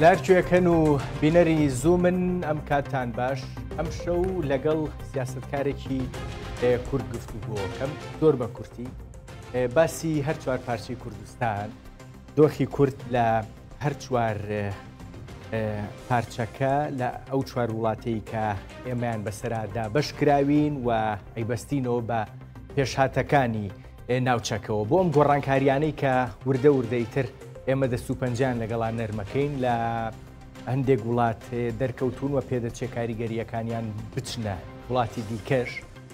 لەهەرکوێکن و بینەری زوو من ئەم کاتان باش ئەم شەو لەگەڵ سیاستکارێکی کوردگفتوگۆکەم زۆر بە کورتی باسی هەر چوار پارچەی کوردستان دۆخی کورد لە هەر چوار پارچەکە لە ئەو چوار وڵاتەی کە ئێمەیان بەسەرادا بەشکراوین و ئەیبەستینەوە بە پێشهاتەکانی ناوچەکەەوە بۆم گۆڕانکاریانەی کە وردە وردەی تر ئێمە دەست و پەنجان لەگەڵان نەرمەکەین لە هەندێک وڵات دەرکەوتون و پێدەچێ کاریگەریەکانیان بچنە وڵاتی دیکەش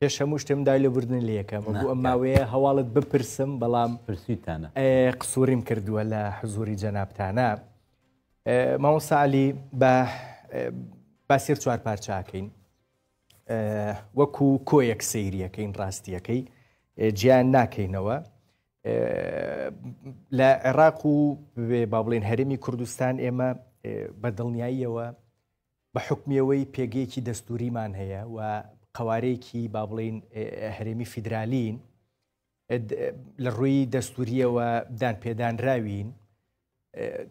پێش هەموو شتێ من داوای لێبوردنی لێ یەکەم بۆ ئەم ماوەیە هەواڵت بپرسم بەڵام پرسیتانە قسووریم کردووە لە حزووری جەنابتانە مامۆساعلی بە باسێر چوار پارچاکەین وەکو کۆیەک سەیریەکەین ڕاستیەکەی جیان ناکەینەوە لە عێراق و با بڵێن هەرمی کوردستان ئێمە بە دڵنیاییەوە بە حوکمی ئەوەی پێگەیەکی دەستووریمان هەیە و قەوارەیەکی با بڵین هەرێمی فیدرالین لە ڕووی دەستوریەوە دان پێدانراوین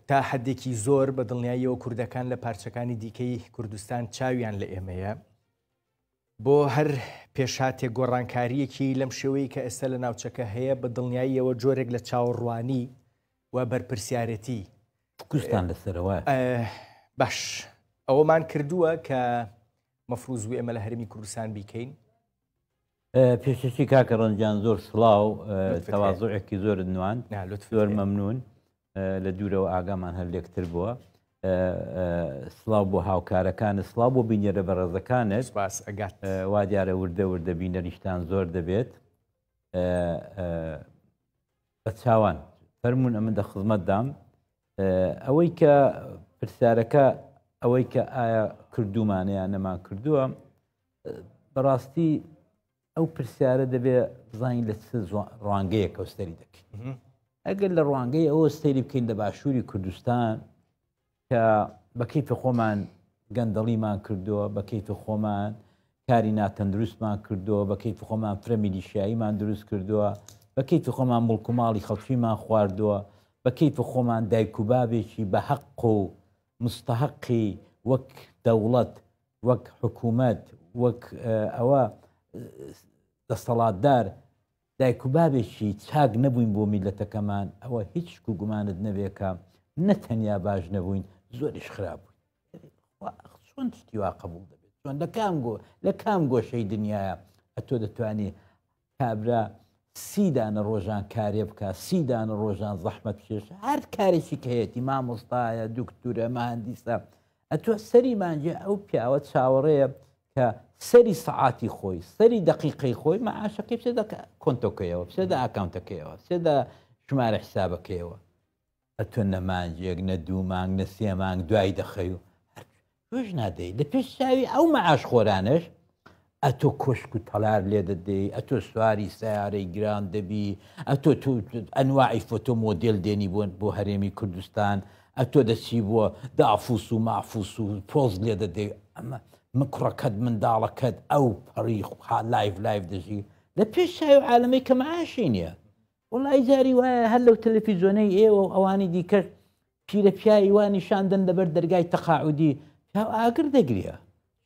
تا حدێکی زۆر بە دڵنیاییەوە کوردەکان لە پارچەکانی دیکەی کوردستان چاویان لە ئێمەیە بۆ هەر پێشهاتێک گۆڕانکارییەکی لەم شێوەی کە ئێستا لە ناوچەکە هەیە، بە دڵنیاییەوە جۆرێک لە چاوەڕوانی و بەرپرسیارێتی. کوردستان لە سەرەوە. باش ئەوەمان کردووە کە مەفروز بوو ئێمە لە هەرمی کوردستان بیکەین. پێشەکی کاکە ڕەنجان زۆر سڵاو تەوازۆعێکی زۆرت نوان زۆر مەمنون لە دوورەوە ئاگامان هەر لێکتر بووە سلااو بۆ هاوکارەکانە سلااو بۆ بینێرە بەڕێزەکانت باس ئەگات وا دیارە وردە وردە بینەریشتان زۆر دەبێت بە چاوان فەرمونون ئەمن دە خزمەت دام ئەوەی کە پرسیارەکە ئەوەی کە ئایا کردومانەیە نەمان کردووە بەڕاستی ئەو پرسیارە دەبێ بزانین لە ڕوانگەیە کەوسری دەکەین ئەگەر لە ڕوانگەی ئەوە سەیری بکەین لە باشووری کوردستان کە بەکەیفە خۆمان گەندەڵیمان کردووە بەکەیفە خۆمان کاری ناتەندروستمان کردووە بەکەیف خۆمان فرە میلیشیاییمان دروست کردووە بەکەیف خۆمان مڵک و ماڵی خەڵکیمان خواردووە بەکەیف خۆمان دایک و بابێکی بە هەق و مستەحقی وەک دەوڵەت وەک حکوومەت وەک ئەوە دەستەڵاتدار دایک و بابێکی چاک نەبووین بۆ میلەتەکەمان ئەوە هیچ و گومانت نەبێکە نەتەنیا باش نەبووین زۆریش خراپ بووین چۆن تیوا قبول دەبێت چۆن لە کام گۆ لە کام گۆشەی دنیاە ئە تۆ دەتوانانی کابرا سی دانە ڕۆژان کارێ بکا سی دانە ڕۆژان زەحمەت کێشە هەر کارێکی کە هەیەتی مامۆستایە دوکتورە مەهەندیسە ئەتوە سەری مانجێ ئەو پیاوە چاوەڕێیە کە سەری سەعاتی خۆی سەری دقیقەی خۆی مەعاشەکەی پێ دەکە کۆنتۆکەیەوە پێدا ئاکاونتەکەیەوە سێدا ژمارە حسابەکەیەوە ئەتۆ نە مانگێک نە دوو مانگ نە سێ مانگ دوای دەخەی و هەرکوێش نادەی لە پێش چاوی ئەو مەعاش خۆرانش ئەتۆ کۆشک و تەلار لێ دەدەی ئەتۆ سواری سیارەی گران دەبی ئەتۆ تو ئەنواعی فۆتۆ مۆدیل دێنی بۆن بۆ هەرێمی کوردستان ئەتۆ دەچی بووە دافوس و مافوس و پۆز لێ دەدەی ئەمە من کوڕەکەت منداڵەکەت ئەو پەڕی لایف لایف دەژی لە پێش چاوی عالەمەی کە مەعاشی نییە وەڵایی جاری وایە هەر لەو تەلەفیزۆنەی ئێوە و ئەوانی دیکە پیرە پیاوی وا نیشاندن لەبەر دەرگای تەقاعودی پیاو ئاگر دەگریا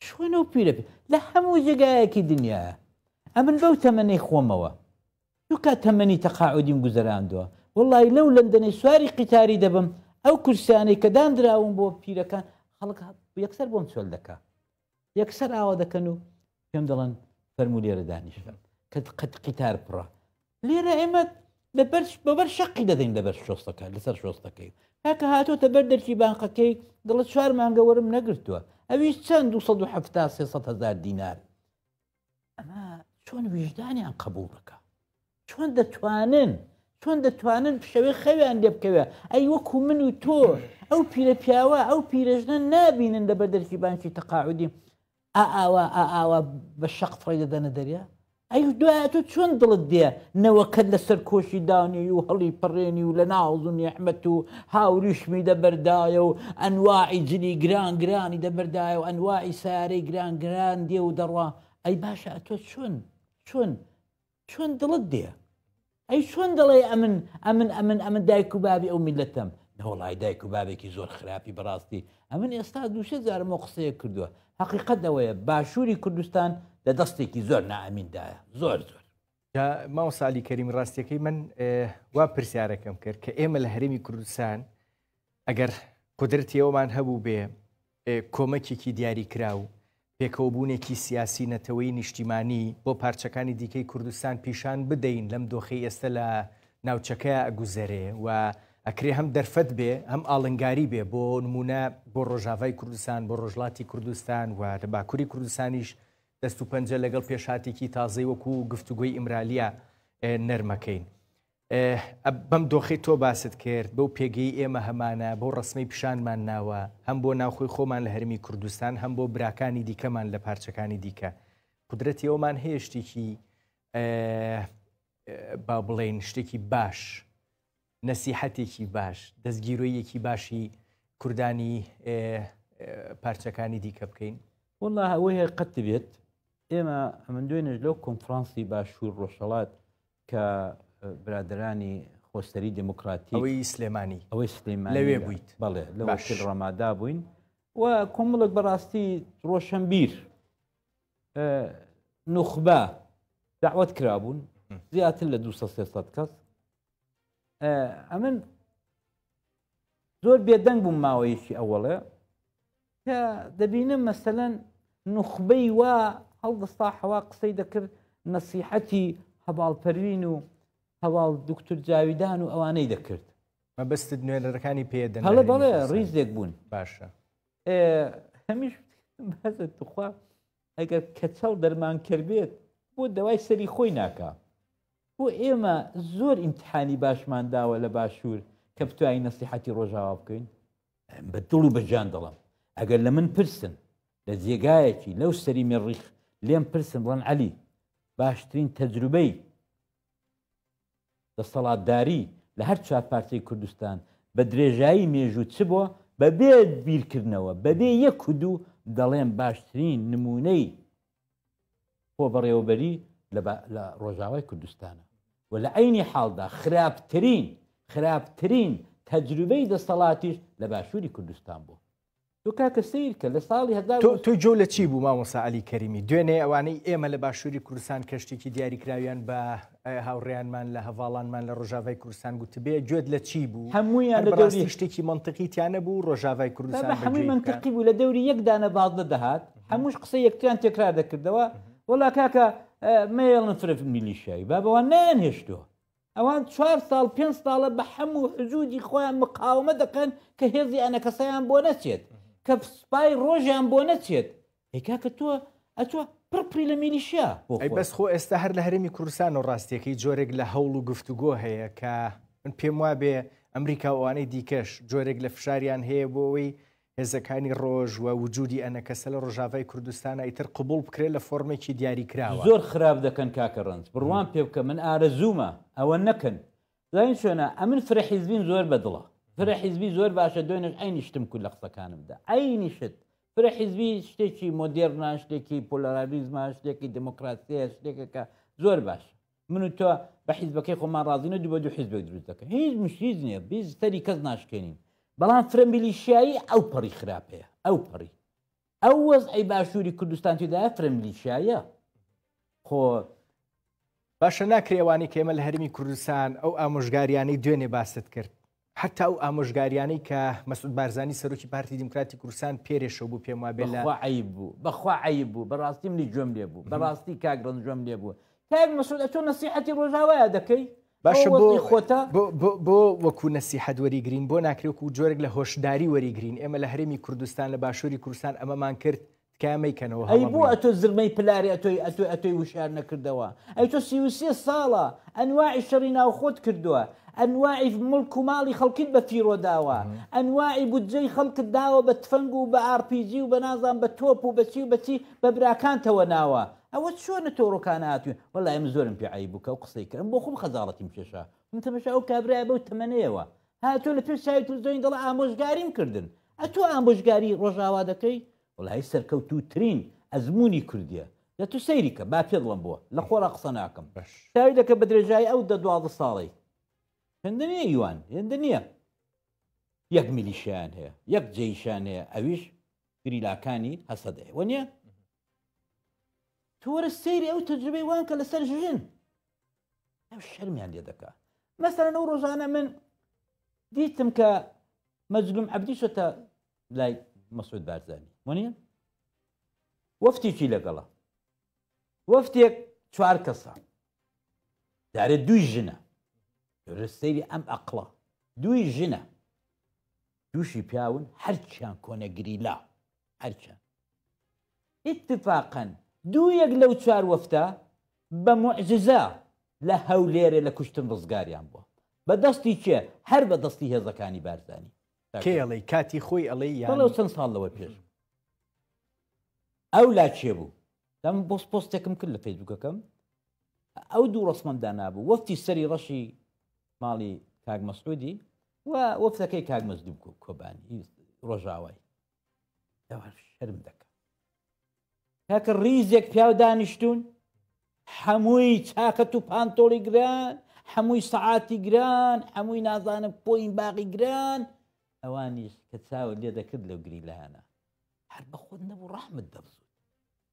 شوێنە و پیرە لە هەموو جێگایەکی دنیا ئەمن بەو تەمەەی خۆمەوە دوکە تەمەنی تەقاعودیم گوزەراندووە وڵی لەو لەندەنەی سواری قیتاری دەبم ئەو کورسانەی کە داندراون بۆ پیرەکان خەڵک یەکسەر بۆم چۆل دەکە یەکسەر ئاوا دەکەن و پێم دەڵێن فەرمو لێرە دانیشتن کە قەت قیتار پڕە لێرە ئێمە لەبەر بەبەر شەقی دەدەین لەبەر شۆستەکە لەسەر شۆستەکەی هەکە هاتۆتە بەر دەرکی بانقەکەی دڵە چوار مانگە وەرم نەگرتووە ئەویش چەند 1970 هزار دینار ئەمە چۆن ویژدانیان قبول بکە چۆن دەتوانن چۆن دەتوانن شەوێ خەویان لێ بکەوێ ئەی وەکو من و تۆ ئەو پیرە پیاوە ئەو پیرەژنە نابینن دە بە دەرکی بانکی تەقاعودی ئاوا ئاوا بە شەق فڕی دەدەنە دەریا ئەی دوایە تۆ چۆن دڵت دێ نەوەکەت لەسەر کۆشی داونی و هەڵی پەڕێنی و لە ناوزون یحمەت و هاوریشمی دەبەردایە و ئەنواعی جلی گران گرانی دەبەردایە و ئەنواعی سارەی گران گران دێ و دەڕوا ئەی باشە ئەتۆ چۆن چۆن چۆن دڵت دێ ئەی چۆن دەڵێ ئەمن ئەمن ئەمن ئەمن دایک و بابی ئەو میلەتەم نەوەڵای دایک و بابێکی زۆر خراپی بەڕاستی ئەمن ئێستا دووشە جارمە قسەیە کردووە حقیقت ئەوەیە باشووری کوردستان لە دەستێکی زۆر نائەمیندایە زۆر زۆر جا مامۆستا علی کەریم ڕاستیەکەی من وا پرسیارەکەم کرد کە ئێمە لە هەرێمی کوردستان ئەگەر قدرەتی ئەومان هەبوو بێ کۆمەکێکی دیاری کرا و پێکەوەبوونێکی سیاسی نەتەوەی نیشتیمانی بۆ پارچەکانی دیکەی کوردستان پیشان بدەین لەم دۆخی ئێستا لە ناوچەکە ئەگوزەرێ و ئەکرێ هەم دەرفەت بێ هەم ئاڵنگاری بێ بۆ نمونە بۆ ڕۆژاڤای کوردستان بۆ ڕۆژلاتی کوردستان و لە باکووری کوردستانیش دەست و پەنجە لەگەڵ پێشهاتێکی تازەی وەکو گفتوگۆی ئیمرالیە نەرمەکەین. بەم دۆخی تۆ باست کرد بەو پێگەی ئێمە هەمانە بەو ڕسمەی پیشانمان ناوە هەم بۆ ناوخۆی خۆمان لە هەرمی کوردستان هەم بۆ براکانی دیکەمان لە پارچەکانی دیکە قدرەتی ئەومان هەیە شتێکی با بڵێن شتێکی باش نەسیحەتێکی باش، دەستگیرۆییەکی باشی کوردانی پارچەکانی دیکە بکەین. وڵا ئەوەی هەر قەت بێت ئێمە من دوێنێش لەو کۆنفرانسی باشوور ڕۆژهڵات کە برادرانی خۆسەری دموکراتی ئەوەی سلێمانی ئەوەی سلێمانی لەوێ بوویت بەڵێ لە باشل ڕەمادا بووین و کۆمەڵک بەڕاستی ڕۆشنبیر نوخبە داوت کرابوون زیاتر لە 200 کەس ئەمن زۆر بێدەنگ بووم ماوەیەکی ئەوەڵێ کە دەبینم مەسەەن نوخبەی وا هەڵدەستا حەوا قسەی دەکرد نەسیحەتی هەباڵپەروین و هەواڵ دکتور جاویدان و ئەوانەی دەکرد مەبستت نوێنەرەکانی پێدە هەڵە بەڵێ ڕیزێک بوون باشە هەمیش بەزت توخوا ئەگەر کەچەڵ دەرمانکەر بێت بۆ دەوای سەری خۆی ناکا بۆ ئێمە زۆر ئیمتحانی باشمان داوە لە باشوور کە بتوانین نەسیحەتی ڕۆژاوا بکەین بە دڵ و بەجان دەڵم ئەگەر لە من پرسن لە جێگایەکی لەو سەری مێڕیخ لێم پرسن بڵن عەلی باشترین تەجروبەی دەسەڵاتداری لە هەر چوار پارچەی کوردستان بە درێژایی مێژوو چ بووە، بە بێ بیرکردنەوە، بە بێ یەک و دوو دەڵێم باشترین نموونەی خۆبەڕێوەبەری لە ڕۆژاوای کوردستانە و لە عەینی حاڵدا خراپترین خراپترین تەجروبەی دەسەڵاتیش لە باشووری کوردستان بووە. تو کاکە سیرکە لە ساڵی هەزار تۆ تۆ جۆ لە چی بوو مامۆسا علی کەریمی دوێنێ ئەوانەی ئێمە لە باشووری کوردستان کەشتێکی دیاریکراویان بە هاوڕێیانمان لە هەواڵانمان لە ڕۆژاڤای کوردستان گوتبێ گوێت لە چی بوو هەموویان لە دەوری بەڕاستی شتێکی منطقی تیانە بوو ڕۆژاڤای کوردستان بابە هەمووی بەگوێی بکە. منتقی بوو لە دەوری یەک دانە باڵ دەدەهات هەمووش قسە یەکتریان تێکرار دەکردەوە وەڵا کاکە مەیەڵن فرف میلیشیایی بابەوان نەیان هێشتووە ئەوان چوار ساڵ پێنج ساڵە بە حەم و حجودی خۆیان مقاومە دەکەن کە هێزی ئەنەکەسەیان بۆ نەچێت کە سپای ڕۆژیان بۆ نەچێت هیکا کە تۆ ئەتوە پڕپری لە میلیشیا بەس خۆ ئێستا هەر لە هەرمی کوردستان و ڕاستیەکەی جۆرێک لە هەوڵ و گفتوگۆ هەیە کە من پێم وابێ ئەمریکا وانەی دیکەش جۆرێک لە فشاریان هەیە بۆەوەی هێزەکانی ڕۆژ وە وجودی ئەنەکەسە لە ڕۆژاڤای کوردستان ئیتر قبوڵ بکرێت لە فۆرمێکی دیاری کراوە. زۆر خراپ دەکەن کاکە ڕەنج بڕوام پێ بکە من ئارەزوومە ئەوە نەکەن زانین چۆنە ئەمن فرە حیزبیم زۆر بە دڵە فرە حیزبی زۆر باشە دوێنێش عەینی شتم کو لە قسەکانمدا عەینی شت فرە حیزبی شتێکی مۆدێرنە شتێکی پۆلۆراریزمە شتێکی دێمۆکڕاسیە شتێکە کە زۆر باشە من و تۆ بە حیزبەکەی خۆمان ڕازینە دوو بە دوو حیزبێک دروست دەکە هیچ مشتیز نییە بیز سەری کەس ناشکێنین بەڵام فرە میلیشایی ئەو پەڕی خراپەیە ئەو پەڕی ئەو وەز ئەی باشووری کوردستان تێدا فرە میلیشایە خۆ باشە ناکرێوانی کێمە لە هەرمی کوردستان ئەو ئامۆژگاریانەی دوێنێ باست کرد حەتا ئەو ئامۆژگاریانەی کە مەسعود بارزانی سەرۆکی پارتی دیموکراتی کوردستان پێرێشەو بوو پێم وابێ لە بەخوا عیب بوو بەخوا عیب بوو بەڕاستی منی گوێم لێ بوو بەڕاستی کاک ڕەنج گوێم لێ بوو کاک مەسعود ئەتۆ نەسیحەتی ڕۆژاوایە دەکەی باشە بۆ وەزی خۆتە بۆ بۆ بۆ وەکو نەسیحەت وەریگرین بۆ ناکرێت و جۆرێک لە هۆشداری وەریگرین ئێمە لە هەرێمی کوردستان لە باشووری کوردستان ئەمەمان کرد تکایە مەیکەنەوە هەڵە ئەی بۆ بووین. ئەتۆ زرمەی پلارێ ئەتۆی ئەتۆی ئەتۆی وشیار نەکردەوە ئەی تۆ سی و سێ ساڵە ئەنواعی شەڕی ناوخۆت کردوە ئەنواعی مڵک و ماڵی خەڵکیت بە فیڕۆ داوە ئەنواعی بودجەی خەڵکت داوە بە تفەنگ و بە ئاڕ پی جی و بە نازام بە تۆپ و بە چی و بە چی بە براکانتەوە ناوە ئەوە چۆنە تۆ ڕۆکانە هاتوی وەلای من زۆرم پێ عەیب بوو کە ئەو قسەی کە ئەم بۆ خۆم خەجاڵەتیم کێشا من تەمەشا ئەو کابرایە بەو تەمەنەیەوە هاتوون لە پێش چاوی تلزۆین دەڵە ئامۆژگاریم کردن ئەتو ئامۆژگاری ڕۆژاوا دەکەی وڵی سەرکەوتو ترین ئەزمونی کوردیە دە تو سەیریکە با پێ بڵم بووە لە خۆڕا قسە ناکەم شاوی دەکە بە درێژایی ئەو دە دوازە ساڵی هێندە نیە یوان هێندە نییە یەک میلیشیان هەیە یەک جێیشان هەیە ئەویش گریلاکانی هەسەدەیە وە نیە تۆ وەرە سەیری ئەو تەجروبەی وان کە لەسەر ژن ئەو شەرمیان لێ دەکا مەسەرەن ئەو ڕۆژانە من دیتم کە مەجلوم عبدیشەتە لای مەسود بارزانانی وەنی وەفتێکی لەگەڵە وەفتێک چوار کەسە دارێ دوی ژنە سەیری ئەم ئەقڵە دوی ژنە دووشی پیاون هەرچیان کۆنەگریلا هەرچەند ئیتفاقەن دوو یەک لەو چوار وەفتە بە موعجزە لە هەولێرێ لە کوشتن ڕزگاریان بووە بە دەستی کێ هەر بە دەستی هێزەکانی بارزانی کێ ئەڵێی کاتی خۆی ئەڵێی یان بەڵێ چەند ساڵ لەوە پێش بوو. ئەو لا کێ بوو دەم بۆس پۆستێکم کرد لە فەیسبوکەکەم ئەو دوو ڕسمم دانابوو وەفتی سەری ڕەشی ماڵی کاک مەسعودی و وەفتەکەی کاک مەزدوو کۆبانی ڕۆژاوای شەرم دەکە تاکە ڕیزێک پیاو دانیشتون هەمووی چاکەت و پانتۆڵی گران هەمووی سەعاتی گران هەمووی نازانم پۆین باقی گران ئەوانیش کە چاوە لێ دەکرد لەو گری لایەنە هەر بە خۆت نەبوو ڕحمت دەبزوو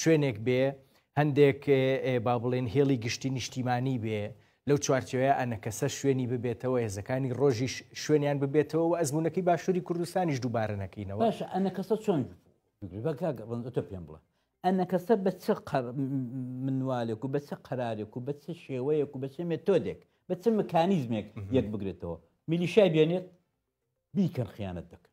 شوێنێک بێ هەندێک با بڵێن هێڵی گشتی نیشتیمانی بێ لەو چوارچەوەیە ئەنەکەسە شوێنی ببێتەوە هێزەکانی ڕۆژیش شوێنیان ببێتەوە و ئەزمونونەکەی باشووری کوردستانیش دووبارە نەکەینەوە باش ئەنەکەسە چۆن بەکگەڕندتە پێم بڵە ئەنەکەسە بە چ منوالێک و بە چ قەرارێک و بە چ شێوەیەک و بە چ مێتۆدێک بە چ مکانیزمێک یەک بگرێتەوە میلیشای بێنێت بیکەن خیانەت دەکەن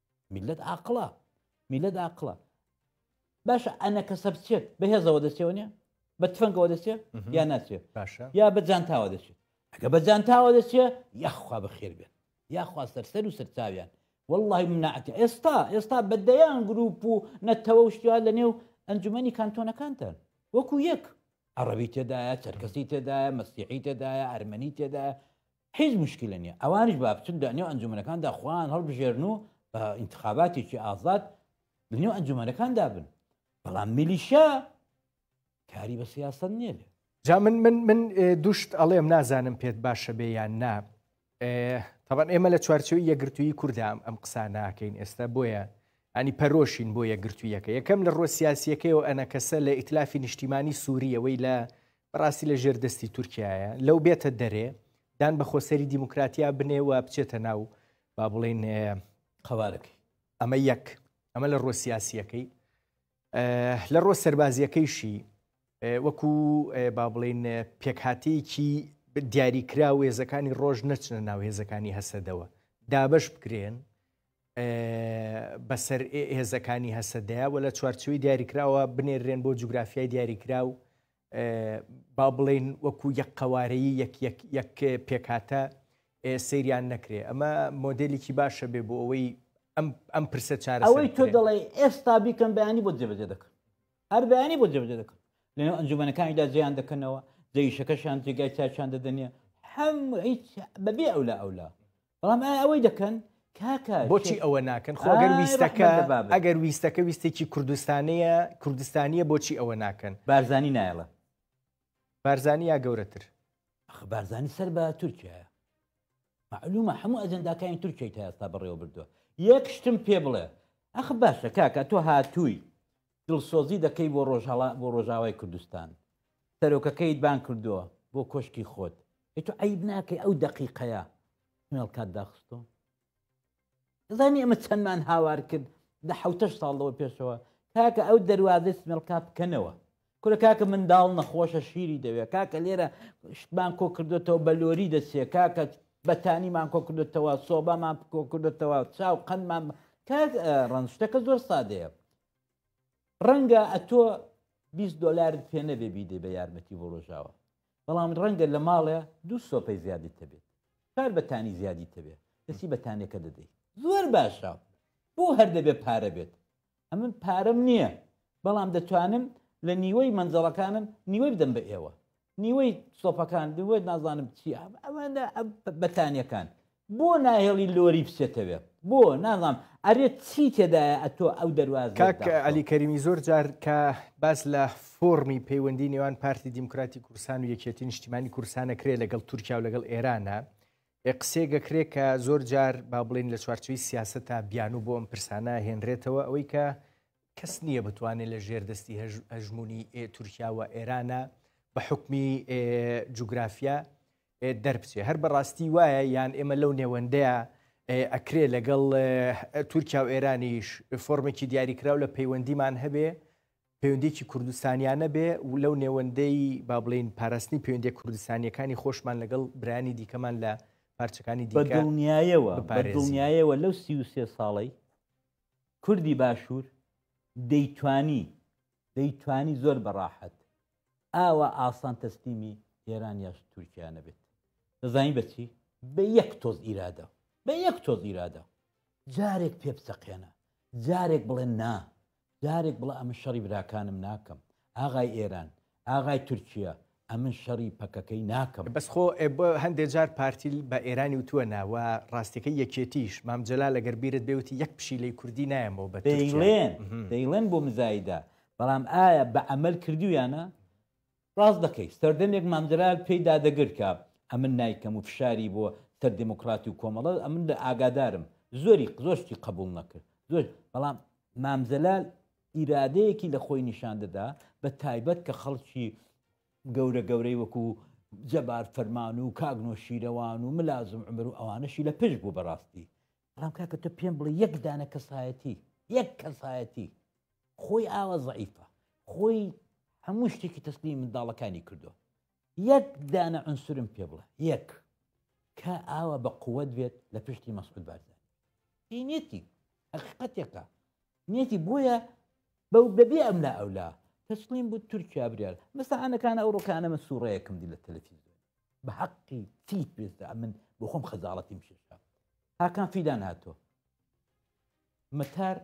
میلەت عاقڵە میلەت عاقڵە باشە ئەنە کەسە بچێت بەهێزەوە دەستەوە نیە بە تفەنگەوە دەچێت یا ناچێت باشە یا بە جانتاوە دەچێت ئەگە بە جانتاوە دەچێت یاخوا بەخێر بێت یاخوا سەرسەر و سەرچاویان واللهی منعتە ئێستا ئێستا بە دەیان گروپ و نەتەوە شتیا لە نێو ئەنجومی کانتۆنەکانتان وەکو یەک عربی تێدایە چەرکەسی تێدایە مەسیحی تێدایە ئەرمەنی تێدایە هیچ موشکیلە نیە ئەوانیش با بچن دە نێو ئەنجومەنەکاندا خوان هەڵبژێرن و بە ئینتخاباتێکی ئازاد لە نێو ئەنجومەنەکاندا بن بەڵام میلیشا کاری بە سیاست نییە لێ جا من من من دوشت ئەڵێم نازانم پێت باشە بێ یان نا تەبان ئێمە لە چوارچەوەی یەگرتووی کوردام ئەم قسان ناکەین ئێستا بۆیە ئەنی پەرۆشین بۆ یەکگرتوویەکە یەکەم لە ڕۆسیاسیەکەی و ئەنەکەسە لە ئیتلافی نیشتیمانی سووریەوەی لە بەڕاستی لە ژێر دەستی تورکایە لەو بێتە دەرێ دان بە خۆسەری دیموکراتیا بنێ و بچێتە ناو با بڵین قەوارەکەی ئەمە یەک ئەمە لە ڕۆ سیاسیەکەی لە ڕۆ سەربازیەکەیشی وەکو با بڵین پێکهاتەیەکی دیاریکرا و هێزەکانی ڕۆژ نەچنە ناو هێزەکانی هەسەدەوە دابش بکرێن بەسەر هێزەکانی هەسەدەیە و لە چوارچوی دیاریکراوە بنێرێن بۆ جوگرافیای دیاریکرا و با بڵین وەکو یەک قوارەیی یەک پێکاتە سریان نەکرێ ئەمە مۆدلێکی باشە بێ بۆ ئەوەی ئەم پرسە چارەوەی تۆ دەڵێ ئێستا بیکەم بەیانی بۆ جێبەجێ دەکەن هەر بەیانی بۆ جێبەجێ دەکەن لەنێ ئەنجومەنەکانیدا جێیان دەکەنەوە جێیشەکەشان جێگای چاچان دەدەنێ هەم هیچ بەبێ ئەولا ئەولا بەڵام ئایا ئەوەی دەکەن کاکە بۆچی ئەوە ناکەن خۆگەر ویستەکە ئەگەر ویستەکە ویستێکی کوردستانەیە کوردستانیە بۆچی ئەوە ناکەن بارزانی نایڵە بارزانی یا گەورەتر بارزانی سەر بە تورکایە معلومە هەموو ئەجنداکانی تورکیای تا ئێستا بەڕێوە بردووە یەک شتم پێ بڵێ ئەخ باشە کاکە تۆ هاتووی دڵسۆزی دەکەی بۆ ڕۆژهەڵا بۆ ڕۆژاوای کوردستان سەرۆکەکەیت بانگ کردووە بۆ کۆشکی خۆت ئەی تۆ عەیب ناکەی ئەو دەقیقەیە هەڵکات داخستۆ دەزانی ئەمە چەندمان هاوار کرد لە حوتەش ساڵ لەوە پێشەوە کاکە ئەو دەواازەی سمێڵکا بکەنەوە کورە کاکە منداڵ نەخۆشە شیری دەوێت کاکە لێرە شتمان کۆ کردوێتەوە بە لۆری دەچێ کاکە بەتانیمان کۆ کردوێتەوە سۆبامان کۆ کردوێتەوە چاو قەنمان کاک ڕەنج شتەکە زۆر سادەیە ڕەنگە ئەتۆ 20 دلارت پێ نەبێ بیدەی بە یارمەتی بۆ ڕۆژاوە بەڵام ڕەنگە لە ماڵێ دوو سۆپەی زیادی تەبێت کار بەتانی زیادی تەبێت دەسی بەتانەکە دەدەیت زۆر باشە بۆ هەر دەبێ پارە بێت ئەمن پارەم نییە بەڵام دەتوانم لە نیوەی مەنجەڵەکانم نیوەی بدەم بە ئێوە نیوەی سۆپەکان دوێت نازانم چی ئەوەندە بەتانیەکان بۆ ناهێڵی لۆری بچێتەوێ بۆ نازام ئەرێ چی تێدایە ئەتۆ ئەو دەرواز علی کەریمی زۆر جار کە باس لە فۆرمی پەیوەندی نێوان پارتی دیموکراتی کورسان و یەکێتی نیشتیمانی کورسانەکرێ لەگەڵ تورکیا و لەگەڵ ئێرانە قسێگەکرێ کە زۆر جار با بڵین لە چوارچەوەی سیاست تا بیانوو بۆ ئەم پرسانە هێنرێتەوە ئەوەی کە کەس نییە بتوانێت لە ژێر دەستی هەژمونی تورکیا و ئێرانە بە حکمی جوگرافیا دەربچێ هەر بەڕاستی وایە یان ئێمە لەو نێوەندەیە ئەکرێ لەگەڵ تورکیا و ئێرانیش فۆرمێکی دیاریکراو لە پەیوەندیمان هەبێ پەیوەندێکی کوردستانیانە بێ و لەو نێوەندەی با بڵین پاراستنی پەیوەندی کوردستانیەکانی خۆشمان لەگەڵ برانی دیکەمان لە پارچەکانی دڵنیایەوە دڵنیایەوە لەو سی ساڵی کوردی باشوور دەیتوانی دەیتوانی زۆر بەڕاحەت ئاوا ئاسان تەسلیمی ئێران یاش تورکیا نەبێت دەزانی بەچی بە یەک تۆز ئیرادە بە یەک تۆز ئیرادە جارێک پێ بسەقێنە جارێک بڵێن نا جارێک بڵە ئەمە شەڕی براکانم ناکەم ئاغای ئێران ئاغای تورکیە ئەمن شەڕی پەکەکەی ناکەم. بەس خۆ هەندێ جار پارتی بە ئێرانی وتووە نا و ڕاستیەکەی یەکێتیش مام جەلال ئەگەر بیرت بێ وتی یەک پشیلەی کوردی نایەمەوە بە تورکیا. دەیڵێن دەیڵێن بۆ مزایدە بەڵام ئایا بە عەمەل کردوویانە؟ ڕاست دەکەی سەردەمێک مام جەلال پێی دادەگرت کە ئەمن نایکەم و فشاری بۆ سەر دێمۆکڕاتی و کۆمەڵە ئەمن لە ئاگادارم زۆری زۆر شتی قەبووڵ نەکرد زۆر بەڵام مام جەلال ئیرادەیەکی لە خۆی نیشان دەدا بە تایبەت کە خەڵکی گەورە گەورەی وەکو جەبار فەرمان و کاک نۆشیرەوان و ملازم عمر و ئەوانەشی لە پشت بوو بەڕاستی بەڵام کاکە تۆ پێم بڵێ یەک دانە کەسایەتی یەک کەسایەتی خۆی ئاوە زعیفە خۆی هەموو شتێکی تەسلی منداڵەکانی کردو یەک دانە ئەنسرم پێ بڵێ یەک کە ئاوە بە قووەت بێت لە پشتی مەسعود بارزانانی حقیقەتێکە نیەتی بۆیە بەو بەبێ ئەم لا ئەولا تەسلیم بوو تورکیا برار مەسەعانەکان ئەو ڕۆکانە من سوڕەیەکم دی لە تەلەفیزیۆن بە حەقی چیت پێدا من بۆ خۆم خەزاڵەتیم شێشا هاکان فیدان هاتۆ مەتار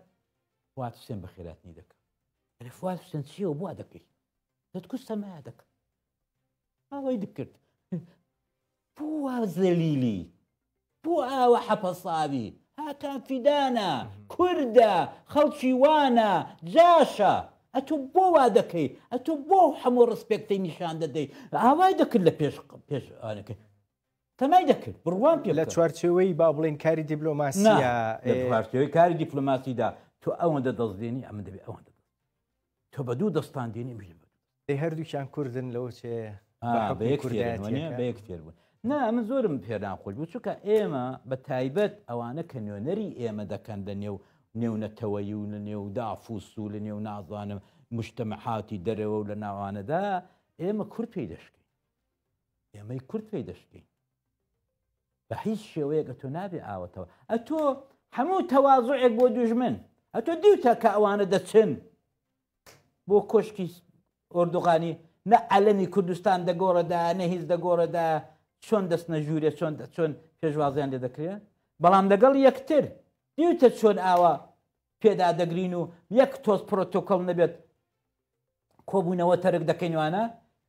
فوات حسێن بە خێراتنی دەکە ئەرە فوات حسێن چیەوە بوا دەکەی دەت کو سەمایا دەکە ئەوەی دکرد بووە زەلیلی بۆ ئاوا حەپەساوی هاکان فیدانە کوردە خەڵکی وانە جاشە ئەتو بۆ وا دەکەی ئەتو بۆ حەمۆ ڕسپێکتەی نیشان دەدەی ئاوای دەکرد لە پێش پێش ئەەکەی تەمای دەکرد بڕوان پێ لە چوارچێوەی با بڵێن کاری دیبلۆماسیە چوارچێوەی کاری دیپلۆماسیدا تۆ ئەوەندە دەستێنی ئەمە دەبێت ئەوەندە تۆ بە دوو دەستان دێنی مژ بە دەی هەردووکیان کوردن لەوە چێ بەیەک فێر بوون نا ئەمە زۆرم پێدان خۆش بوو چونکە ئێمە بە تایبەت ئەوانە کە نوێنەری ئێمە دەکەن لە نێو نێونەتەوەی و لە نێو دافوس و لە نێو نازانم مشتەمەحاتی دەرەوە و لە ناوانەدا ئێمە کورد پێی دەشکین ئێمەی کورد پێی دەشکین بە هیچ شێوەیەک ئەتۆ نابێ ئاوەتەوە ئەتۆ هەموو تەوازۆێک بۆ دوژمن ئەتۆ دیوتە کە ئەوانە دەچن بۆ کۆشکی ئۆردوغانی نە عەلەمی کوردستان دەگۆڕەدا نە هیچ دەگۆڕەدا چۆن دەست نەژوورێ چۆن چۆن پێشوازیان لێ دەکرێت بەڵام لەگەڵ یەکتر دیوتە چۆن ئاوا پێدا دەگرین و یەک تۆز پرۆتۆکۆل نەبێت کۆبوونەوە تەرک دەکەین وانە؟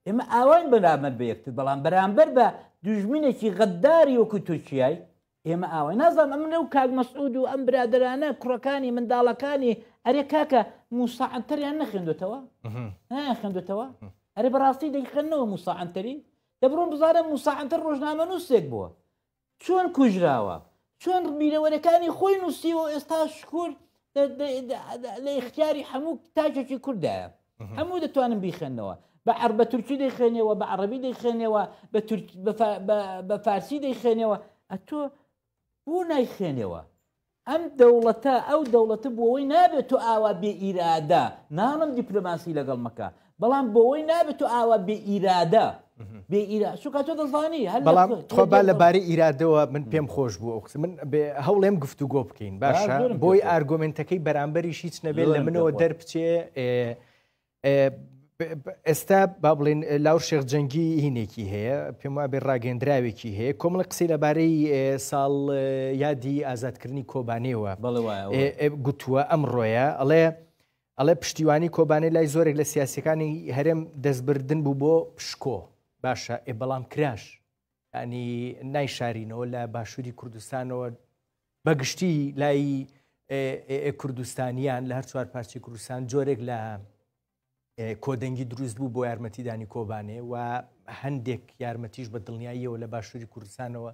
ئێمە ئاواین بەرامبەر بە یەکتر بەڵام بەرامبەر بە دوژمنێکی غەدداری وەکو تورکیای ئێمە ئاوای نازانم ئەم لەو کاک مەسعود و ئەم برادرانە کوڕەکانی منداڵەکانی ئەرێ کاکە موساعتەریان نەخێندوتەوە خوێندوتەوە ئەرێ بەڕاستی دەیخەنەوە موساعتەری دەبڕۆم بزانە موساعتە ڕۆژنامە نووسێک بووە چۆن کوژراوە چۆن بیرەوەرەکانی خۆی نووسیوە ئێستا شکور لە اختیاری هەموو تاکێکی کوردایە هەموو دەتوانم بیخێنەوە بە عرب بە تورکی دەیخێنەوە بە عربی دەیخێنەوە بە فارسی دەیخێنەوە ئەتۆ بۆ نایخێنەوە ئەم دەوڵەتە ئەو دەوڵەتە بۆوەی نابێت تۆ ئاوا بێ ئیرادە ناڵم دیپلۆماسی لەگەڵ مەکە بەڵام بۆوەی نابێت تۆ ئاوا بێ ئیرادە بێ ئیرا چونکە تۆ دەزانی هەر بەڵام لە- تخوا با لەبارەی ئیرادەوە من پێم خۆش بوو ئەو قسە من بێ هەوڵێم گفتوگۆ بکەین باشە زۆرم پێ بۆی خۆش. ئارگۆمنتەکەی بەرامبەریش هیچ نەبێت لە زۆرم پێ منەوە خۆش. دەربچێ ئێ، ئێستا با بڵین لاور شێخ جەنگی هینێکی هەیە پێم وابێ ڕاگەندراوێکی هەیە کۆمەڵە قسەی لەبارەی ساڵ یادی ئازادکردنی کۆبانێەوە گوتووە ئەم ڕۆیە ئەڵێ ئەڵێ پشتیوانی کۆبانێ لای زۆرێک لە سیاسەکانی هەرێم دەستبردن بوو بۆ پشکۆ باشە ئێ بەڵام کراش ینی نایشارینەوە لە باشووری کوردستانەوە بە گشتی لای کوردستانیان لە هەر چوار پارچی کوردستان جۆرێک لە کۆدەنگی دروست بوو بۆ یارمەتیدانی کۆبانێ و هەندێک یارمەتیش بە دڵنیاییەوە لە باشووری کوردستانەوە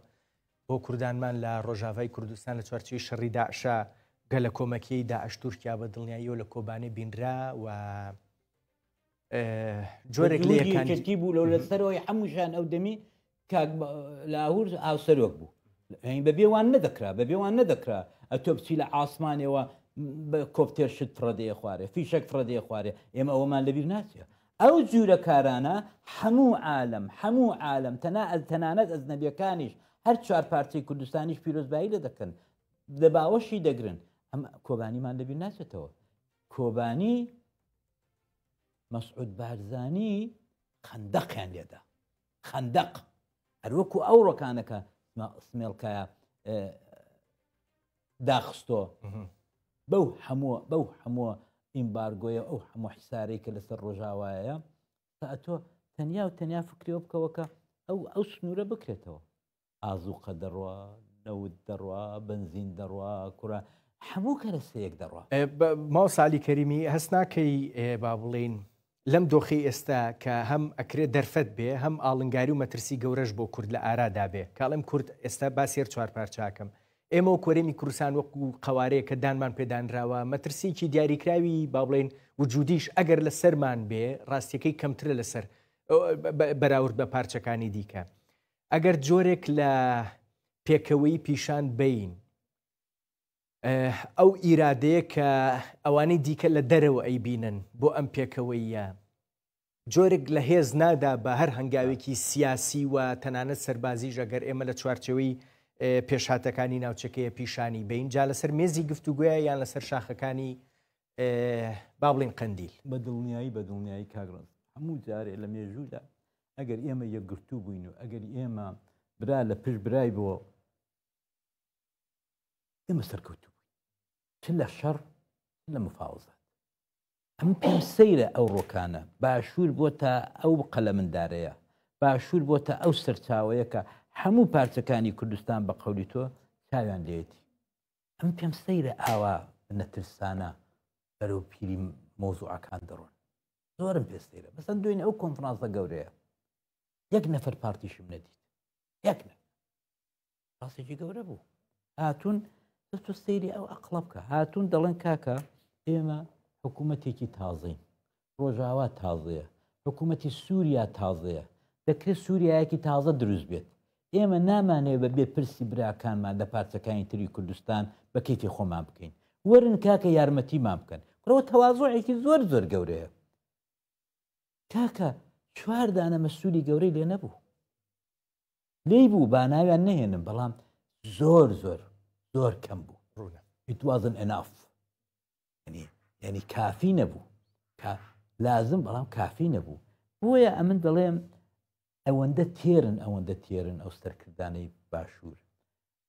بۆ کوردانمان لە ڕۆژاوای کوردستان لە چوارچوی شەڕی داعشە گەلە کۆمەکیی داعش تورکیا بە دڵنیاییەوە لە کۆبانێ بینرا و جۆرێک لە یەکەتی بوو لەو لەسەرەوەی هەمووشان ئەو دەمی لاهور هاوسەرۆک بوو بە بێوان نەدەکرا بە بێوان نەدەکرا ئەتۆ بچی لە ئاسمانەوە بە کۆپتێر شت فڕەدێ خوارێ فیشەک فڕەدێ خوارێ ئێمە ئەوەمان لەبیر ناچێت ئەو جوورە کارانە هەموو عالم هەموو عالم تەنا ئەل تەنانەت ئەز نەبیەکانیش هەر چوار پارتی کوردستانیش پیرۆزبایی لە دەکەن لە باوەشی دەگرن ئەم کۆبانیمان لەبیر ناچێتەوە کۆبانی مەسعود بارزانی خەندەقیان لێدا خەندەق هەروەکو ئەو ڕۆکانەکە سمێڵکایە داخستۆ بەو هەمووە بەو هەمووە ئیمبارگۆیە ئەو هەموو حیسارەی کە لەسەر ڕۆژاوایە تا تۆ تەنیا و تەنیا فکرەوە بکەوەکە ئەو ئەو سنوورە بکرێتەوە ئازوقە دەڕوا نەوت دەڕوا بنزین دەڕوا کوڕە هەموو کەرەسەیەک دەڕوا ماو سالی کەریمی هەست ناکەی با بڵین لەم دۆخی ئێستا کە هەم ئەکرێت دەرفەت بێ هەم ئاڵنگاری و مەترسی گەورەش بۆ کورد لە ئارادا بێ کاڵم کورد ئێستا با سێر چوار پارچاکەم ئێمە و کۆرێمی کوردستان وەک و قوارەیە کە دانمان پێدانراوە مەترسیکی دیاریکراوی با بڵێن وجودیش ئەگەر لە سەرمان بێ ڕاستیەکەی کەمترە لەسەر بەراورد بە پارچەکانی دیکە ئەگەر جۆرێک لە پێکەوەی پیشان بین ئەو ئیرادەیە کە ئەوانەی دیکە لە دەرەوە ئەی بینن بۆ ئەم پێکەوەیە جۆرێک لە هێز نادا بە هەر هەنگاوێکی سیاسی و تەنانەت سەربازی ژەگەر ئێمە لە چوارچەوەی پێشاتەکانی ناوچەکەیە پیشانی بین جا لەسەر مێزی گفتوگوۆە یان لەسەر شاخەکانی بابلین قندیل بە دڵنیایی بە دڵنیایی کاگرن هەموو جارێ لە مێژوودا ئەگەر ئێمە یەکگرتوو بووین و ئەگەر ئێمە برا لە پشت برای بۆ ئێمە سەرکەوتوو بووین چ لە شەڕ لە مفاوزات ئەم پێم سەیرە ئەو ڕۆکانە باشوور بۆ تا ئەو قەلە مندارەیە باشوور بۆ تا ئەو سەرچاوەیە کە هەموو پارچەکانی کوردستان بە قەولی تۆ چاویان لێتی ئەم پێم سەیرە ئاوا نەترسانە بەرەو پیری مۆزوعەکان دەڕۆن زۆرم پێستێرە بەسەن دوێن ئەو کۆنفرانسە گەورەیە یەک نەفەر پارتیشم نەدیت یەک ڕاستێکی گەورە بوو هاتون دەست سەیری ئەو ئەقلە بکە هاتون دەڵێن کاکە ئێمە حکوومەتێکی تازەین ڕۆژاوا تازەیە حکوومەتی سووریا تازەیە دەکرێت سووریایەکی تازە دروست بێت ئێمە نامانەوێت بە بێ پرسی براکانمان لە پارچەکانی تری کوردستان بە کەیفی خۆمان بکەین وەرن کاکە یارمەتیمان بکەن کڕەوە تەوازۆعێکی زۆر زۆر گەورەیە کاکە چواردانە مەسووری گەورەی لێ نەبوو لی بوو با ناویان نهێنم بەڵام زۆر زۆر زۆر کەم بوو ڕوونە ئیتوازن ئەناف ینی کافی نەبوو لازم بەڵام کافی نەبوو بۆیە ئەمن دەڵێم ئەوەندە تێرن ئەوەندە تێرن ئەو سەرکردانەی باشوور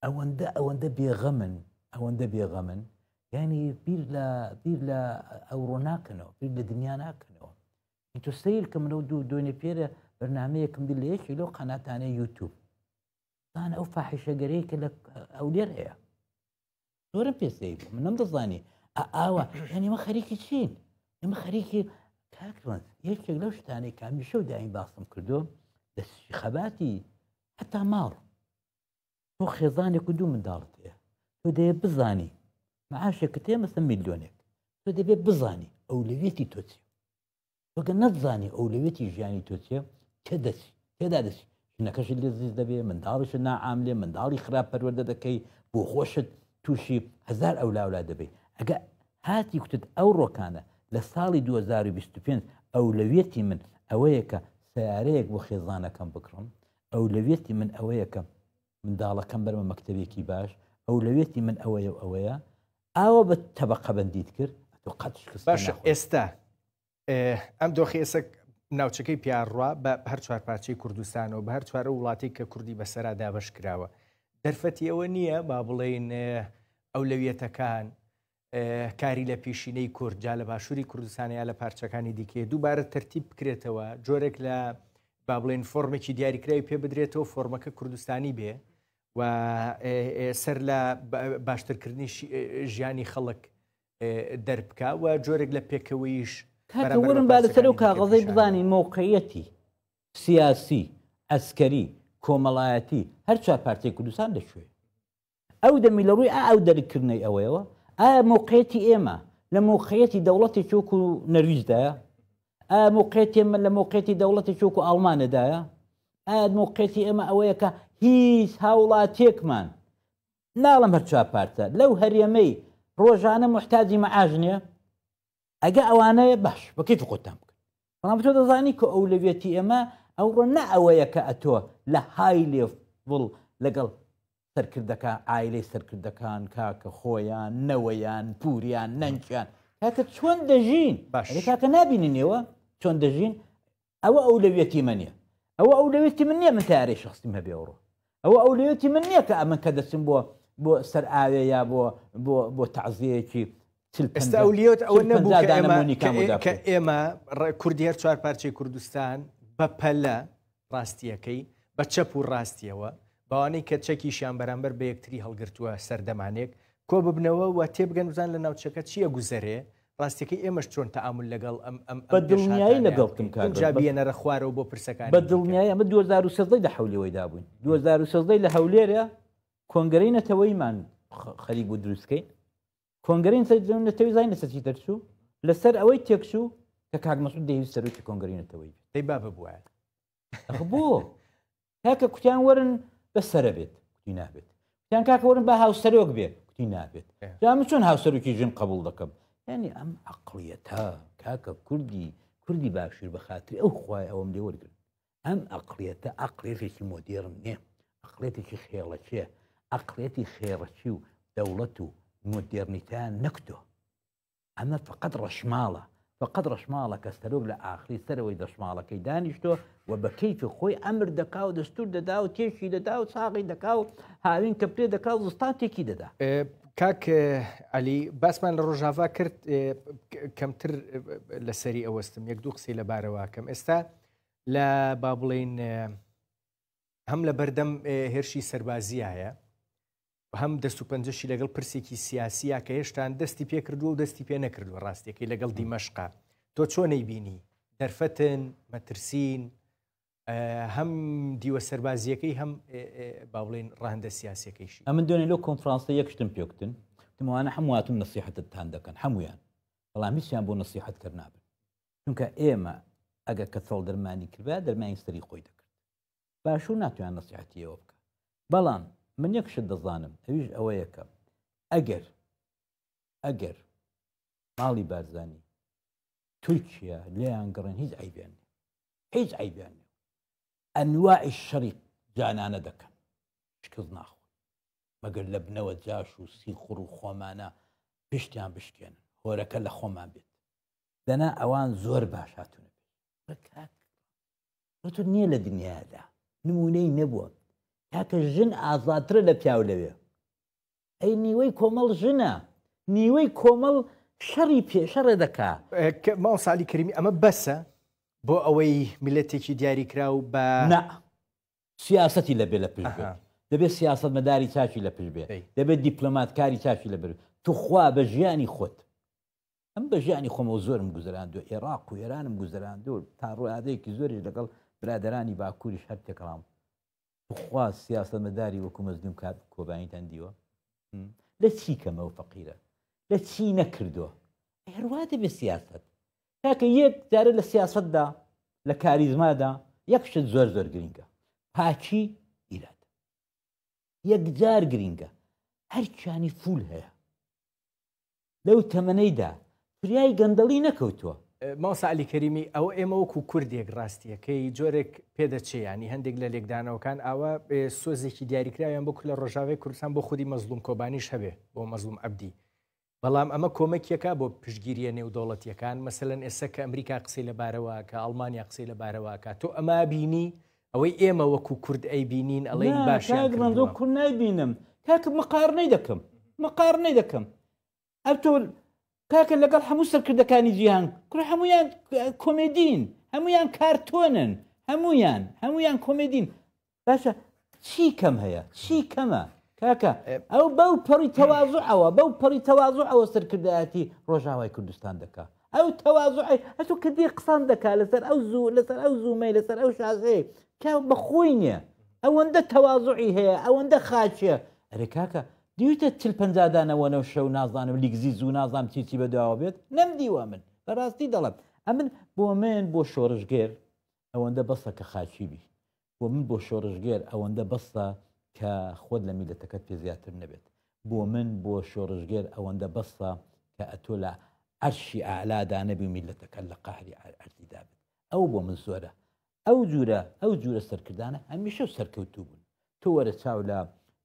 ئەوەندە ئەوەندە بێغەمن ئەوەندە بێغەمن یعنی بیر لە بیر لە ئەوڕۆ ناکەنەوە بیر لە دنیا ناکەنەوە تۆ سیر کە منەوە دوو دۆنێ پێرە بەرنمەیەکم بیر لە یەکی لەو قەناتانە یوتوب دان ئەو فاحیشەگەرەیە کە لە ئەو لێر هەیە زۆرم پێ سەیر بوو من نەمدەزانی ئا ئاوە یعنی ئێمە خەریکی چین ئێمە خەریکی کاکڕن یەکێک لەو شتانەی کامیشە و دایم باسم کردو لە خەباتی هەتا ماڵ تۆ خێزانێک و دوو منداڵت هەیە تۆ دێ بزانی معاشێکت هەیە مەسە میلیۆنێک تۆ دەبێت بزانی ئەولویەتی تۆچی بەگە نەتزانانی ئەولەوێتی ژیانی تۆ چێ چە دەچی تێدا دەچی ژنەکەش لێ زیز دەبێ منداڵیش ناعام لێ منداڵی خراپ پەروەەردە دەکەی بۆ خۆشت تووشی هزار ئەو لاولا دەبێت ئەگە هاتی کوتت ئەو ڕۆکانە لە ساڵی 2025 ئەو لەویەتی من ئەوەیە کە سیارەیەک بۆ خێزانەکەم بکڕم ئەو لەویەتی من ئەوەیە کە منداڵەکەم بەرمە مەکتتەبێکی باش ئەو لەوێتی من ئەوەیە ئەوەیە ئاوە بە تەبقە بەندیت کرد تۆ قەت شکست باشە ناخۆی. ئێستا ئێ، ئەم دۆخی ئێستا ناوچەکەی پیاڕوا بە هەر چوار پارچەی کوردستانەوە بە هەر چوارە وڵاتی کە کوردی بەسەرا دابش کراوە دەرفەتی ئەوە نییە با بڵێین ئێ، ئەولەویەتەکان ئێ، کاری لە پیشینەی کورد جا لە باشووری کوردستان یا لە پارچەکانی دیکەی دووبارە تەرتیب بکرێتەوە جۆرێک لە با بڵێن فۆرمێکی دیاریکراوی پێ بدرێتەوە فۆرمەکە کوردستانی بێ و سەر لە باشترکردنی ژیانی خەڵک دەربکا و جۆرێک لە پێکەوەیش کاتەوەرم با لەسەر و کاغەزەی بزانین مۆقعەتی سیاسی ئەسکەری کۆمەڵایەتی هەر چوار پارتی کوردستان دەکوێ ئەو دەمی لە ڕووی ئەو دەرکردنەی ئەوەیەوە ئایا مۆقعەتی ئێمە لە مۆقعەتی دەوڵەتی چۆک و نەرویجدایە ئایا موقعێتی ئێمە لە موقعێتی دەوڵەتێکی وەکو ئاڵمانەدایە ئایا موقعێتی ئێمە ئەوەیە کە هیچ هاوڵاتێکمان ناڵم هەر چوار پارتە لەو هەرێمەی ڕۆژانە محتاجی مەعاژ نییە ئەگە ئەوانەیە باش بەکەیت خۆتان بکەن بەڵام تۆ دەزانی کە ئەولەوێتی ئێمە ئەوڕۆ نە ئەوەیە کە ئەتۆ لە های لێڤڵ لەگەڵ سەرکردەکان ئایلەی سەرکردەکان کاکە خۆیان نەوەیان پوریان نەنکیان کاکە چۆن دەژین باش کاکە نبینینەوە چۆن دەژین ئەوە ئەو لەوێتی منە ئەوە ئەو لەوێتی من نیە من تارەی شخصیم هەبێوەڕۆ ئەوە ئەو لەوێتی من نییە کە ئەمن کە دەچم بۆ بۆ سەر ئاوێ یا بۆ بۆ بۆ تعزیەکی ئێستا ئەو لیۆت ئەوە نەبوو کە ئێمە کە ئێمە کوردی هەر چوار پارچەی کوردستان بە پەلە ڕاستیەکەی بە چەپ و ڕاستیەوە باوانەی کە چەکیشیان بەرامبەر بە یەکتری هەڵگرتووە سەردەمانێک کۆ ببنەوە و تێبگەن بزان لە ناوچەکە چییە گوزەرێ ڕاستەکەی ئێمەش چۆن تەعامل لەگەڵ ئەم ئەم بە دڵنیایی لەگەڵتم کارجابیەنەرە خوارەوە بۆ پرسەکان بە دڵنیایی ئەمە 2013 لە حولەوەی دابووین 2013 لە هەولێرە کۆنگەرەی نەتەوەیمان خەریک بوو دروستکەین کۆنگرەی نووسەران نەتەوەی زای لەسەر چی دەرچوو لەسەر ئەوەی تێکچوو کە کاک مەسعود دەیویست سەرۆکی کۆنگرەی نەتەوەی بێت دەی بابە بووە ئەخ بۆ کاکە کوتیان وەرن بە سرە بێت کوتی نابێت یان کاکە وەرن بە هاوسەرۆک بێ کوتی نابێت جا من چۆن هاوسەرۆکی ژن قبول دەکەم یعنی ئەم عقلیەتە کاکە کوردی کوردی باشوور بە خاتری ئەو خوای ئەوم لێ وەرگرن ئەم ئەقلێتە ئەقلێژێکی مۆدێرن نییە ئەقلێتێکی خێڵەکێ ئەقلێتی خێڕەکی و دەوڵەت و مۆدێرنیتە نەکتۆ ئەمە فقط ڕەشماڵە فقط ڕەشماڵە کە سەرۆک لە ئاخری سەرەوەی دەشماڵەکەی دانیشتۆ و بە کەیفی خۆی ئەمر دەکا و دەستور دەدا و تێکی دەدا و ساغی دەکا و هاوین کە پێ دەکا و زستان تێکی دەدا کاک علی باسمان لە ڕۆژاوا کرد کەمتر لەسەری ئەوەستم یەک دوو قسەی لە بارەوەکەم ئێستا لە با بڵێین هەم لە بەردەم هێرشی سەربازیایە هەم دەست و پەنجەشی لەگەڵ پرسێکی سیاسیە کە هێشتان دەستی پێکردو و دەستی پێ نەکردووە ڕاستەکەی لەگەڵ دیمەشقا تۆ چۆنەی بینی دەرفەتن مەترسین هەم دیوە سەربازیەکەی هەم با بڵێن ڕاندە سیاسەکەیشی ئەمن دوێنێ لۆ کۆنفرانسە یەکشتم پێکتن تموانە هەموواتون نسیحەتتان دەکەن هەمویان بەڵام هیچیان بۆ نسیحەت کرد نابن چونکە ئێمە ئەگە کە چڵ دەرمانی کربا دەرمانی سەری خۆی دەکرد باشوو ناتوان نسیحەتیەوە بکە بەڵام من یەک شت دەزانم ئەویش ئەوە یەکەم ئەگەر ئەگەر ماڵی بارزانی تورکیا لێیان گەڕێن هیچ ئایبیان هیچ ئایبیان ئەنواعی شەڕی جانانە دەکەن شکست ناخۆ مەگەر لە بنەوە جاش و سیخڕ و خۆمانە پشتیان بشکێن هۆرەکە لە خۆمان بێت دەنا ئەوان زۆر باش هاتونە بەتو نییە لە دنیادا نمونەی نەبووە تاکە ژن ئازاترە لە پیاو لەوێ ئەی نیوەی کۆمەڵ ژنە نیوەی کۆمەڵ شەڕی پێشەڕە دەکا ماو سالی کریمی ئەمە بەسە بۆ ئەوەی میلەتێکی دیاری کرا و بە سیاستی لە بێ لە پێ دەبێت سیاست مەداری چاچی لە پێ بێت دەبێت دیپلۆماتکاری چاچی لە بێت توخوا بە ژیانی خۆت ئەم بە ژیانی خۆمەوە زۆرم گوزراندو عێراق و ئێرانم گوزراندو تا ڕوادەیەکی زۆریش لەگەڵ برادرانی باکووریش هەر تێکڕام بخوا سیاست مەداری وەکو مەزدوم کات کۆبانیتان دیوە لە چی کەمەوە فەقیرە لە چی نەکردووە هەروە دەبێ سیاست تاکە یەک جارە لە سیاستدا لە کاریزمادا یەک شت زۆر زۆر گرنگە پاچی ئیراد یەکجار گرنگە هەرچانی فول هەیە لەو تەمەنەیدا فریای گەندەڵی نەکەوتووە. مامۆستا عەلی کەریمی ئەوە ئێمە وەکو کوردێک ڕاستییەکەی جۆرێک پێدەچێ یانی هەندێک لە لێکدانەوەکان ئاوا سۆزێکی دیاریکراویان بۆ کورد لە ڕۆژاوای کوردستان بۆ خودی مەزلوم کۆبانیش هەبێ بۆ مەزلوم عەبدی بەڵام ئەمە کۆمەکیەکە بۆ پشگیریە نێودەوڵەتیەکان مەسەلەن ئێستا کە ئەمریکا قسەی لە بارەوە کە ئەڵمانیا قسەی لە بارەوە کە تۆ ئەما بینی ئەوەی ئێمە وەکو کورد ئەیبینین ئەڵێن باشیان کردووە. نا کاک ڕەنجۆ کورد نایبینم، کاکە مقارنەی دەکەم، مقارنەی دەکەم. ئەو تۆ کاکە لەگەڵ هەموو سەرکردەکانی جیهان کورە هەموویان کۆمێدین، هەموویان کارتۆنن، هەموویان، هەموویان کۆمێدین. باشە چی کەم هەیە، چی کەمە؟ کاکە ئەو بەو پەڕی تەوازوعەوە، بەو پەڕی تەوازوعەوە سەرکردایەتی ڕۆژاوای کوردستان دەکا. ئەو تەوازوعی ئەتو کردی قسان دەکا لەسەر ئەو زوو لەسەر ئەو زوومەی لەسەر ئەو شازەیە کە بەخۆی نییە ئەوەندە تەوازوعی هەیە ئەوەندە خاچە ئەرێ کاکە دیوتە چل پەنجادانەوەنە و شەو نازانم لیگزی زوو نازانام چیچی بەداوا بێت نەم دیوە من بەڕاستی دەڵم ئەمن بۆ من بۆ شۆڕشگەر ئەوەندە بەسە کە خاچی بی بۆ من بۆ شۆڕشگێر ئەوەندە بەسە کە خۆت لە میلەتەکەت پێ زیاتر نەبێت بۆ من بۆ شۆڕشگێر ئەوەندە بەسە کە ئەتۆ لە عەرشی ئالادا نەبی و میلەتەکە لە قەهری ئەرزیدا بێت ئەو بۆ من زۆرە ئەو جورە ئەو جورە سەرکردانە هەمیشە و سەرکەوتوو بوون تۆ وەرە چاو لە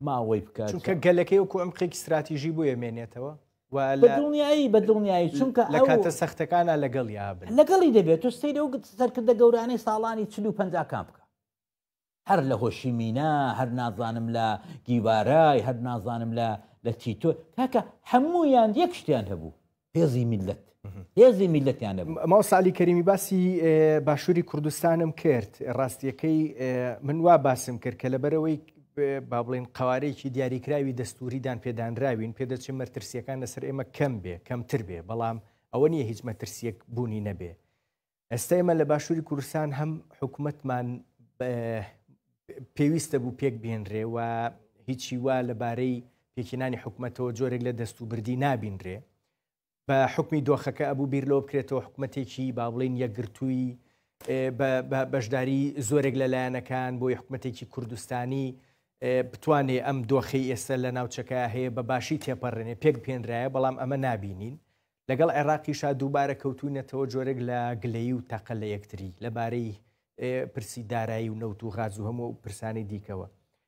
ماوەی بکات چونکە گەلەکەی وکو ئەم قێکی استراتیژی بۆ یەمێنێتەوە بە دڵنیایی بە دڵنیایی چونکە ئەو لە کاتە سەختەکانا لەگەڵیا بن لەگەڵی دەبێت تۆ سەیرە و سەرکردە گەورانەی ساڵانی چل و پەنجا کام بکە هەر لە هۆشی مینا هەر نازانم لە گیوارای هەر نازانم لە لە تیتۆ کاکە هەموویان یەک شتیان هەبوو هێزی میلەت هێزی میلەتیان نەبوو. مامۆستا عەلی کەریمی باسی باشووری کوردستانم کرد ڕاستیەکەی من وا باسم کرد کە لەبەرەوەی با بڵین قوارێکی دیاریکراوی دەستوریدان پێدانراوین پێدەچێ مەرترسیەکان لەسەر ئێمە کەم بێ کەمتر بێ بەڵام ئەوە نییە هیچ مەترسیەک بوونی نەبێ ئێستا ئێمە لە باشووری کوردستان هەم حکوومەتمان پێویستە بوو پێک بێنرێ و هیچی وا لەبارەی پێکینانی حکوومەتەوە جۆرێک لە دەست و بردی نابینرێ بە حکومی دۆخەکە ئەبوو بیر لەوە بکرێتەوە حکوومەتێکی با بڵین یەکگرتووی بەشداری زۆرێک لە لایەنەکان بۆ حکوومەتێکی کوردستانی بتوانێ ئەم دۆخی ئێستا لە ناوچەکە هەیە بە باشی تێپەڕێنێ پێک پێنرایە بەڵام ئەمە نبینین لەگەڵ عێراقیشا دووبارە کەوتوینەتەوە جۆرێک لە گلەی و تەقە لە یەکتری لەبارەی پرسی دارایی و نەوت و غاز و هەموو پرسانی دیکەوە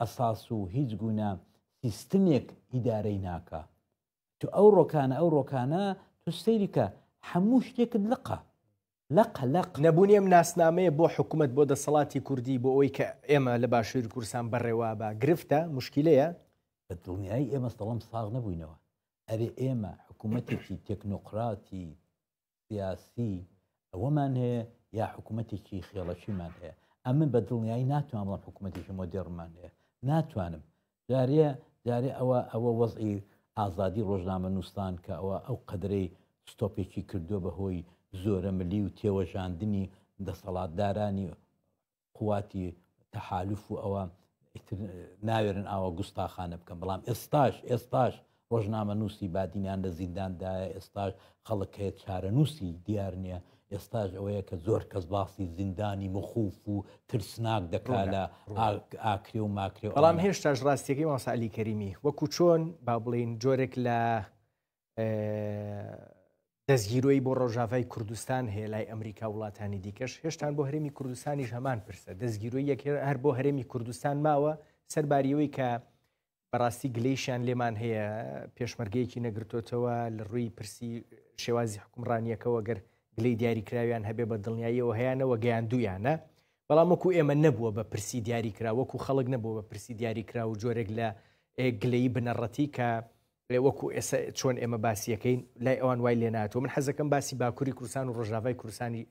ئەساس و هیچ گونە سیستمێک ئیدارەی ناکە تو ئەو ڕۆکانە ئەو ڕۆکانە تو سەیریکە هەموو شتێکت لقە لەق لەق نەبوونی ئەم ناسنامەیە بۆ حکوومەت بۆ دەسەڵاتی کوردی بۆ ئەوەی کە ئێمە لە باشووری کورسان بەڕێوابە گرفتە مشکلەیە بە دڵنیایی ئێمە سەڵم ساغ نەبووینەوە ئەرێ ئێمە حکوومەتێکی تەکنۆقراتی سیاسی ئەوەمان هەیە یا حکوومەتێکی خێڵەکیمان هەیە ئەمە بە دڵنیایی ناتوان بڵم حکوومەتێکی مۆدێڕمان هەیە ناتوانم جارێ جارێ ئەوە ئەوە وەزئی ئازادی ڕۆژنامە نووسان کە ئەوە ئەو قەدرەی ستۆپێکی کردووە بە هۆی زۆرە ملی و تێوەژاندنی دەسەڵاتدارانی قواتی تەحالف و ئەوە ناوێرن ئاوا گوستاخانە بکەم بەڵام ئێستاش ئێستاش ڕۆژنامە نووسی بادینیان لە زینداندایە ئێستاش خەڵک هەیە چارەنووسی دیار نییە ئێستاش ئەوەیە کە زۆر کەس باسی زیندانی مخوف و ترسناک دەکا لە ئاکرێ و ماکرێ بەڵام هێشتاش ڕاستیەکەی ماساعلی کەریمی وەکو چۆن با بڵین جۆرێک لە دەستگیرۆی بۆ ڕۆژاڤای کوردستان هەیە لای ئەمریکا وڵاتانی دیکەش هێشتان بۆ هەرێمی کوردستانیش هەمان پرسە دەستگیرۆی یەک هەر بۆ هەرێمی کوردستان ماوە سەرباریەوەی کە بەڕاستی گلەیشیان لێمان هەیە پێشمەرگەیەکی نەگرتوتەوە لە ڕووی پرسی شێوازی حکومڕانیەکەەوە گەر گلەی دیاریکراویان هەبێ بە دڵنیاییەوە هەیەەوە گەیان دویانە بەڵام وەکو ئێمە نەبووە بە پرسی دیاریکرا وەکو خەڵک نەبووە بە پرسی دیاریکرا و جۆرێک لە گلەی بنەڕەتی کە وەکو ئێستا چۆن ئێمە باسی یەکەین لای ئەوان وای لێ ناتوە من حەزەکەم باسی باکووری کوردستان و ڕۆژاڤای کوردستانی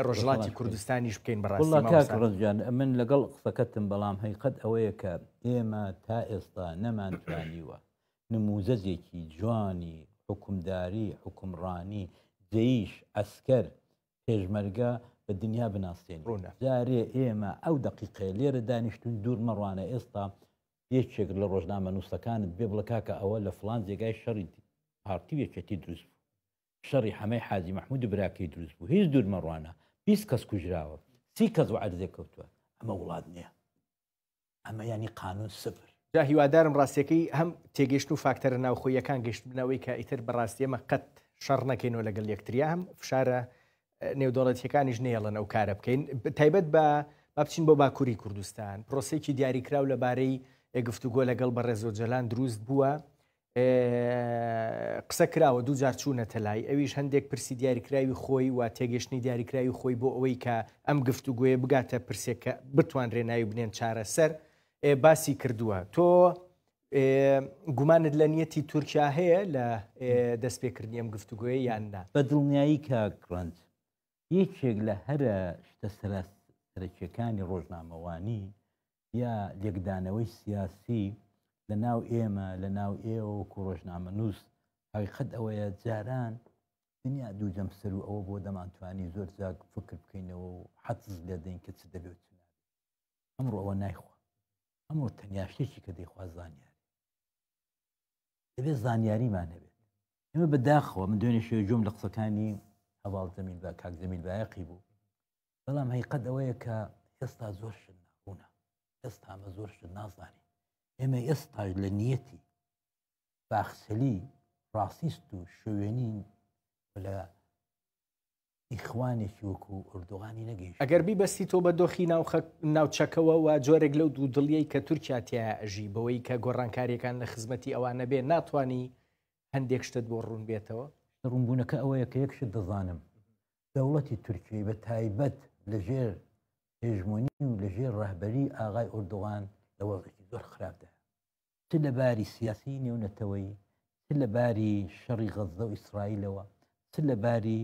ڕۆژڵاتی کوردستانیش بکەین بەڕاستیان من لەگەڵ قسەکەتم بەڵام هەیقەت ئەوەیە کە ئێمە تا ئێستا نەمانتوانیوە نموزەجێکی جوانی حکومداری حکومڕانی جەیش ئەسکەر پێشمەرگە بە دنیا بناسێن ڕوونە جارێ ئێمە ئەو دقیقێ لێرە دانیشتون دوور مەڕوانە ئێستا یەکێک لە ڕۆژنامەنووسەکانت بێ بڵێ کاکە ئەوە لە فڵان جێگای شەڕی پارتی و یەکێتی دروست بوو شەڕی حەمەی حاجی مححمود و براکەی دروست بوو هیچ دوورمەڕوانە بیست کەس کوژراوە سی کەس و عەرزێ کەوتووە ئەمە وڵات نییە ئەمە ینی قانون سفر جا هیوادارم ڕاستیەکەی هەم تێگەشت و فاکتەرە ناوخۆیەکان گەشتبنەوەی کە ئیتر بەڕاستیەمە قەت شەڕ نەکەینەوە لەگەڵ یەکتریا هەم فشارە نێودەوڵەتیەکانیش نەیەڵن ئەو کارە بکەین تایبەت بە با بچین بۆ باکووری کوردستان پرۆسێکی دیاریکراو لەبارەی گفتوگۆ لەگەڵ بە ڕێزۆجلان دروست بووە قسە کراوە دوو جار چوونە تەلای ئەویش هەندێک پرسی دیاریکراوی خۆی و تێگەشتنی دیاریکراوی خۆی بۆ ئەوەی کە ئەم گفتوگوۆیە بگاتە پرسێکە بتوان رێناوی بنێن چارەسەر باسی کردووە تۆ گومانت لە نیەتی تورکیا هەیە لە دەستپێکردنی ئەم گفتوگوۆیە یان نا بە دڵنیایی کاک ڕەنج یەکێک لە هەرە شتە سەراست سەرەکیەکانی ڕۆژنامەوانی یا لێکدانەوەی سیاسی لە ناو ئێمە لە ناو ئێوە وەکو ڕۆژنامە نووس حقیقت ئەوەیە جاران دنیا دوو جەمسەر و ئەوە بۆ دەمانتوانی زۆر جاک فکر بکەینەوە و حەتز لێدەین کە چ دەبێت ئەمڕۆەوە نایخوا ئەمە تەنیا شتێکی کە دەیخواز زانیاری دەبێت زانیاریمان هەبێت ئێمە بەداخەوە من دوێنێ شێ جۆم لە قسەکانی هەواڵ زەمیل بە کاک زەمیل بایەقی بوو بەڵام هەیقەت ئەوەیە کە ئێستا زۆر شت ناڕوونە ئێستا ئەمە زۆر شت نازانین ئێمە ئێستاش لە نیەتی باخسەلی ڕاستیست و شوێنین لە ئیخوانێکی وەکو ئۆردوغانی نەگەیشت ئەگەر بیبەستیتەوە بە دۆخی ناوچەکەوە و جۆرێک لەو دوو دڵیەی کە تورکیا تیاژی بەوەی کە گۆڕانکاریەکان لە خزمەتی ئەوانە بێ ناتانی هەندێک شتت بۆ ڕوون بێتەوە ڕوونبوونەکە ئەوەیە کە یەکشت دەزانم دەوڵەتی تورکیای بە تایبەت لەژێر هێژمۆنی و لەژێر ڕەهبەری ئاغای ئۆردوغان لە وەڵێکی زۆر خراپدا چ لە باری سیاسی نێونەتەوەی چ لە باری شەڕی غەزدە و ئیسرائیلەوە چ لە باری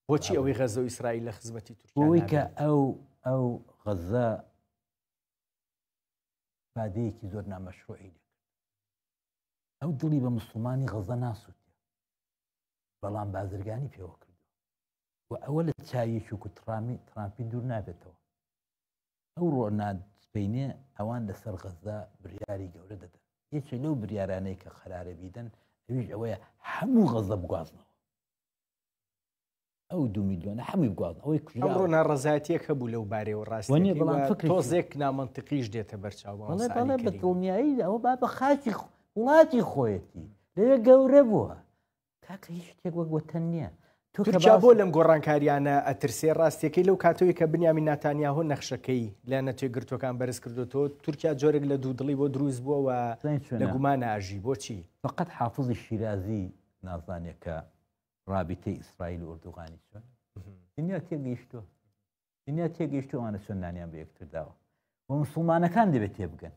بۆچی ئەوەی غەزە و ئیسرائیل لە خزمەتی تورکەوەی کە ئەو ئەو غەزە بادەیەکی زۆر نامەشروعی لێ ئەو دڵی بە مسلمانی غەزە ناسووت بەڵام بازرگانی پێوە کردو و ئەوە لە چاویەکی و ترامی ترامپی دوور نابێتەوە ئەو ڕۆنادسپینێ ئەوان لەسەر غەزدا بریاری گەورە دەدەن یەکێ لەو بریارانەی کە قەرارە بیدەن ئەویش ئەوەیە هەموو غەزە بگوازنەوە ئەو دو میلیۆنە هەمووی بگوازن ئەوەی کوڕۆ ناڕزایەتیەک هەبوو لەو بارێ و ڕاستێنی بەڵام تۆزێک نامەنتقیش دێتە بەرچاو بەڵێ بەڵێ ئەوە با بە خاکی وڵاتی خۆیەتی لەوێ گەورە بووە کاکە هیچ شتێک وەک وەتەن نییە تورکیا بۆ لەم گۆڕانکاریانە ئەترسێ ڕاستیەکەی لەو کاتەوەی کە بنیامی ناتانیاهۆ نەخشەکەی لە نەتێ گرتوەکان بەرز کردوەوە تورکیا جۆرێک لە دوو دڵی بۆ دروست بووەوە لە گومانە ئاژی بۆچی فقط حافظی شیرازی نازانێکە ڕابیتەی ئیسرائیل و ئۆردوغانی چۆن دنیا تێگەیشتۆ دنیا تێگەیشتوانە چۆن نانیان بە یەکترداوە و مسلمانەکان دەبێت تێبگەن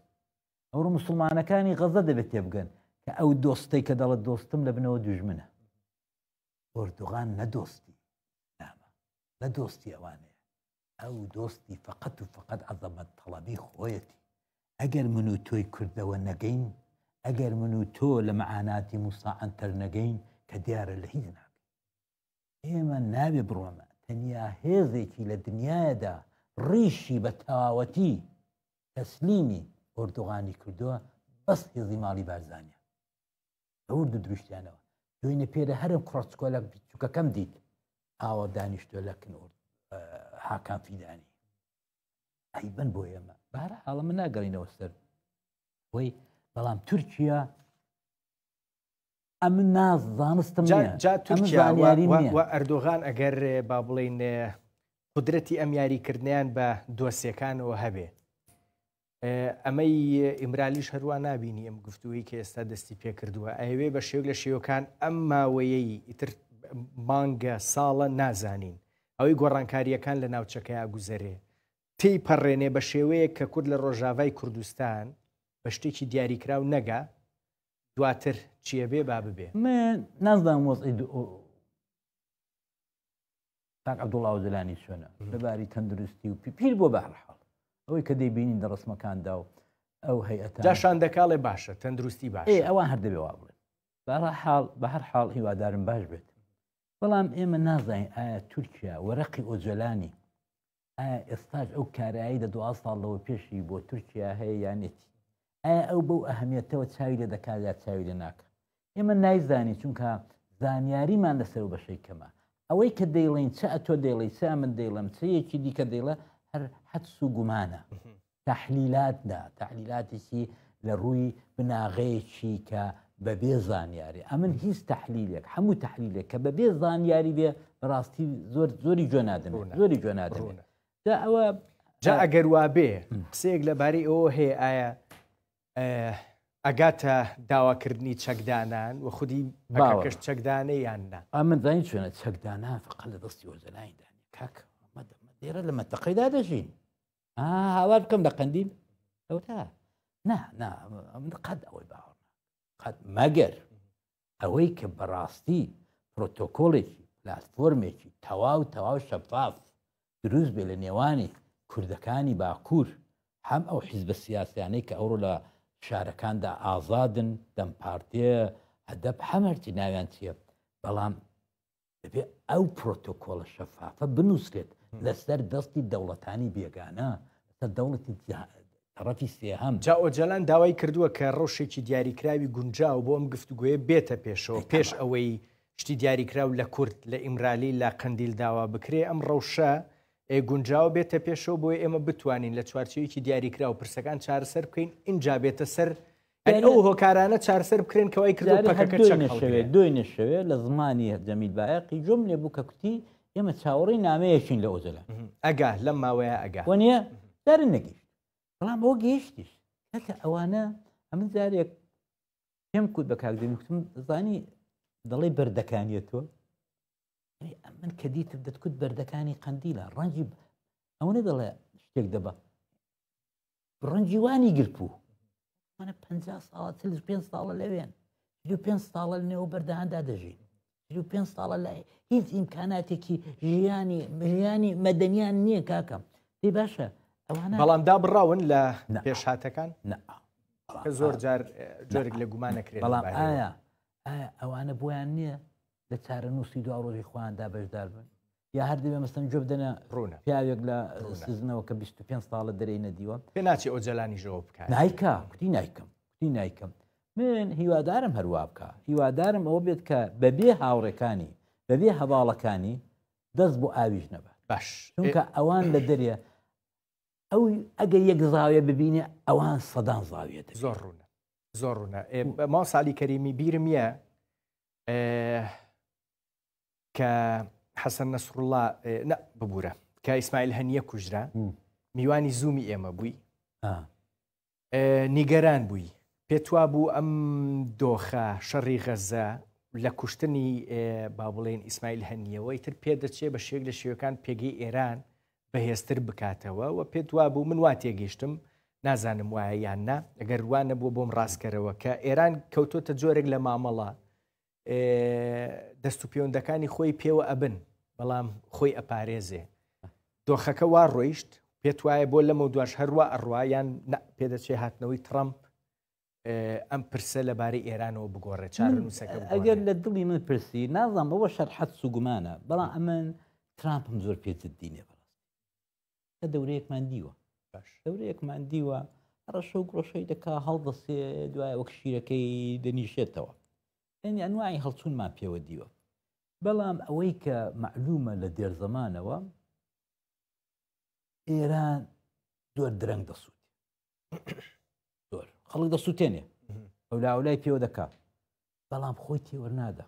ئەوڕۆ مسلمانەکانی غەزە دەبێت تێبگەن کە ئەو دۆستەی کە دەڵە دۆستم لە بنەوە دوژمنە ئۆردوغان نەدۆستی نامە نە دۆستی ئەوانەیە ئەو دۆستی فقط و فقط عەزەمەت تەڵەبی خۆیەتی ئەگەر من و تۆی کردەوە نەگەین ئەگەر من و تۆ لە مەعاناتی موساعاتەر نەگەین کە دیارە لە هیچ ناکەین ئێمە نابێ بڕۆنە تەنیا هێزێکی لە دنیادا ڕیشی بە تەواوەتی تەسلیمی ئۆردوغانی کردووە بەس هێزی ماڵی بارزانە ئەورد و دروشتیانەوە دوێنێ پێرە هەرم کوڕچکۆلە بچووکەکەم دیت ئاوا دانیشتۆ لە کنۆر حاکان فیدانی ئەی بن بۆ ئێمە بارە هەڵە من ناگەڕینەوە سەر بۆی بەڵام تورکیا ئەمن نا زانستم ئەردۆغان ئەگەر با بڵین قدرەتی ئەم یاریکردنیان بە دۆسیەکانەوە هەبێ ئەمەی ئیمرالیش هەروە نبینی ئەم گفتووی کە ئێستا دەستی پێکردووە ئەوێ بە شێو لە شێوەکان ئەم ماوەیەی ئیتر مانگە ساڵە نازانین ئەوەی گۆڕانکاریەکان لە ناوچەکەیا گوزەرێ تی پەڕێنێ بە شێوەیە کە کورد لە ڕۆژاوای کوردستان بە شتێکی دیاریکراو نەگا دواتر چیەبێ با ببێ. من نازدام وەزعی تاک عبدوڵاو جلانی شوێنە لەباری تەندروستی و پیر بۆ بەهرحاڵ ئەوەی کە دەیبینین دە ڕسمەکاندا و ئەو هەیەت جاشان دەکاڵێ باشە تەندروستی باش ئەوە هەر دەبێ وا بڵێ بەڕ حاڵ بە هەر حاڵ هیوادارم باش بێت بەڵام ئێمە نازانین ئایا تورکیا وەرەقی ئۆجلانی ئایا ئێستاش ئەو کارایەی لە دوازدە ساڵ لەوە پێشی بۆ تورکیا هەیە یا نێتی؟ ئایا ئەو بەو ئەهەمیەتەوە چاوی لێ دەکات یا چاوی لێ ناکات؟ ئێمە نایزانین چونکە زانیاریمان لەسەر ئەو بەشەی کەمە. ئەوەی کە دەیڵێین چ ئەتۆ دەیڵێی چ ئەمن دەیڵێم چ یەکی دیکە دەیڵێ هەر حەدس و گومانە. تحلیلاتدا تحلیلاتێکی لە ڕووی بناغەیەکی کە بەبێ زانیاری ئەمن هیچ تحلیلێک هەموو تحلیلێک کە بەبێ زانیاری بێ بەڕاستی زۆر زۆری جۆنادن زۆری جۆنادن دا ئەوە جا ئەگەر وابێ قسەیەک لەبارەی ئەوە هەیە ئایا ئەگاتە داواکردنی چەکدانان و خودی باوەکەش چەکدانە یان نا ئەمن زانین چۆنە چەکدانان فقە لە دەستی وەزەلایندا کاک لێرە لە مەتەقەیدا دەژین هاوار بکەم لە قندیل ئەوتا نا نا من قەت ئەوەی باوە قەت مەگەر ئەوەی کە بەڕاستی پرۆتۆکۆڵێکی پلتفۆرمێکی تەواو تەواو شەفاف دروست بێ لە نێوانی کوردەکانی باکوور هەم ئەو حیزبە سیاسیانەی کە ئەوڕۆ لە شارەکاندا ئازادن دەم پارتێ هەدەپ حەمەرتی ناویان چیە بەڵام دەبێت ئەو پرۆتۆکۆلە شەفافە بنووسرێت لەسەر دەستی دەوڵەتانی بێگانە لەسەر دەوڵەتی تەڕەفی سێهام جا ئۆجەلان داوای کردووە کە ڕەوشێکی دیاریکراوی گونجاو بۆ ئەم گفتوگوۆیە بێتە پێشەوە پێش ئەوەی شتی دیاریکراو لە کورد لە ئیمرالی لە قندیل داوا بکرێ ئەم ڕەوشە گونجاو بێتە پێشەوە بۆی ئێمە بتوانین لە چوارچەیەکی دیاریکراو پرسەکان چارەسەر بکەین ئینجا بێتە سەر ئەی ئەو هۆکارانە چارسەر بکرێن کە وای کردو یاری هەر پەکەکە دوی چەک نەشەوێت هەڵگرێت دوی نەشەوێت لە زمانی جەمیل بایەقی گوێم لێ بوو کە کوتی ئێمە چاوەڕی نامەیەکین لە ئۆجەلا مهم. ئەگا لەم ماوەیە ئەگا بۆ نییە دارن نەگەیشت بەڵام بۆ گەیشتیش کاکە ئەوانە ئەمن جارێک پێم کوت بە کاکدێن کوتم زانی دەڵی بەردەکانیە تۆ ئەی ئەمن کە دیتم دەتکوت بەردەکانی قەندیلە ڕەنجی ب- ئەوەنە دەڵێ شتێک دەبە ڕەنجی وانی گرتبوو منە پ ساڵە چل پێ ساڵە لەوێن پێ ساڵە نێو بەردەهاندا دەژین پێ ساڵە لای هیچ ئیمکاناتێکی ژیانی مریانی مەدەنیان نییە کاکەم پێ باشە ئەوانە بەڵام دابڕاون لە پێشهاتەکان زۆر جار جۆرێک لە گومان نەکرێت بەڵام ئایا ئایا ئەوانە بۆیان نییە لە چارە نووسی دواڕۆژی خۆیاندا بەشدار بن یا هەر دەبێ مەسەن جۆ بدەنە ڕوونە پیاوێک لە سزنەوە کە 25 ساڵە دەرەی نەدیوە پێ ناچێ ئۆجلانی ژەوە بکە نایکە کوتی نایکەم کوتی نایکەم من هیوادارم هەروە بکە هیوادارم ئەوە بێت کە بەبێ هاوڕەکانی بەبێ هەواڵەکانی دەست بۆ ئاویش نەبە باش چونکە ئەوان لە دەرێ ئەو ئەگە یەک زاوێ ببینێ ئەوان سەدان زاوێت زۆر ڕوونە زۆر ڕوونە ما سالی کەریمی بیرمیە کە حەسەن نەسرڵا نە ببوورە کە ئیسماعیل هەنیە کوژرا میوانی زوومی ئێمە بووی نیگەران بووی پێتوا بوو ئەم دۆخە شەڕی غەزە لە کوشتنی با بڵێن ئیسماعیل هەنیەوەی تر پێدەچێ بە شێک لە شێوەکان پێگەی ئێران بەهێزتر بکاتەوە و پێت وا بوو من وا تێگەیشتم نازانم وایە یان نا ئەگەر وانە بوو بۆم ڕاستکەرەوە کە ئێران کەوتۆتە جۆرێک لە مامەڵە دەست و پێوەندەکانی خۆی پێوە ئەبن بەڵام خۆی ئەپارێزێ دۆخەکە وا ڕۆیشت پێت وایە بۆ لەمە دواش هەروە ئەڕوا یان پێدەچێ هاتنەوەی ترامپ ئەم پرسە لەبارەی ئێرانەوە بگۆڕێت چارنووسەکە ئەگەر لە دڵی من پرسی نازانم بەوە شەرحەت سوگومانە بەڵام ئەمن ترامپم زۆر پێ جددینێ بەڕاست کە دەورەیەکمان دیوە باش دەورەیەکمان دیوە ڕەشە و گڕۆشەی دەکا هەڵدەسێ دوای وەک شیرەکەی دەنیشێتەوە یعنی ئەنوای هەڵچوونمان پێوە دیوە بەڵام ئەوەی کە معلومە لە دێر زمانەوە ئێران زۆر درەنگ دەسووت زۆر خەڵک دەسووتێنێ ئەولاولای پێوە دەکا بەڵام خۆی تێوەرنادا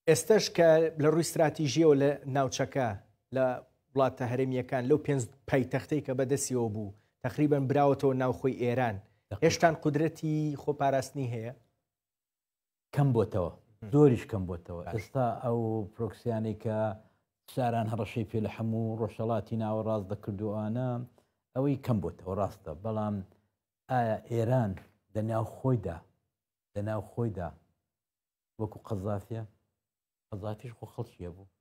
ئێستش کە لە ڕووی استراتیژیەوە لە ناوچەکە لە وڵاتە هەرمیەکان لەو پێنج پایتەختەی کە بەدەستیەوە بوو تقریبان براوەتەوە ناوخۆی ئێران هێشتان قدرەتی خۆپاراستنی هەیە کەم بۆتەوە زۆریش کەم بۆتەوە ئێستا ئەو پرۆکسیانەی کە ساران هەڕەشەی پێ لە هەموو ڕۆژەڵاتی ناوە ڕاست دەکردوانە ئەوەی کەم بۆتەوە ڕاستە بەڵام ئایا ئێران لە ناو خۆیدا لە ناو خۆیدا وەکو قەزافە قەزافیش خۆ خەڵکی هەبوو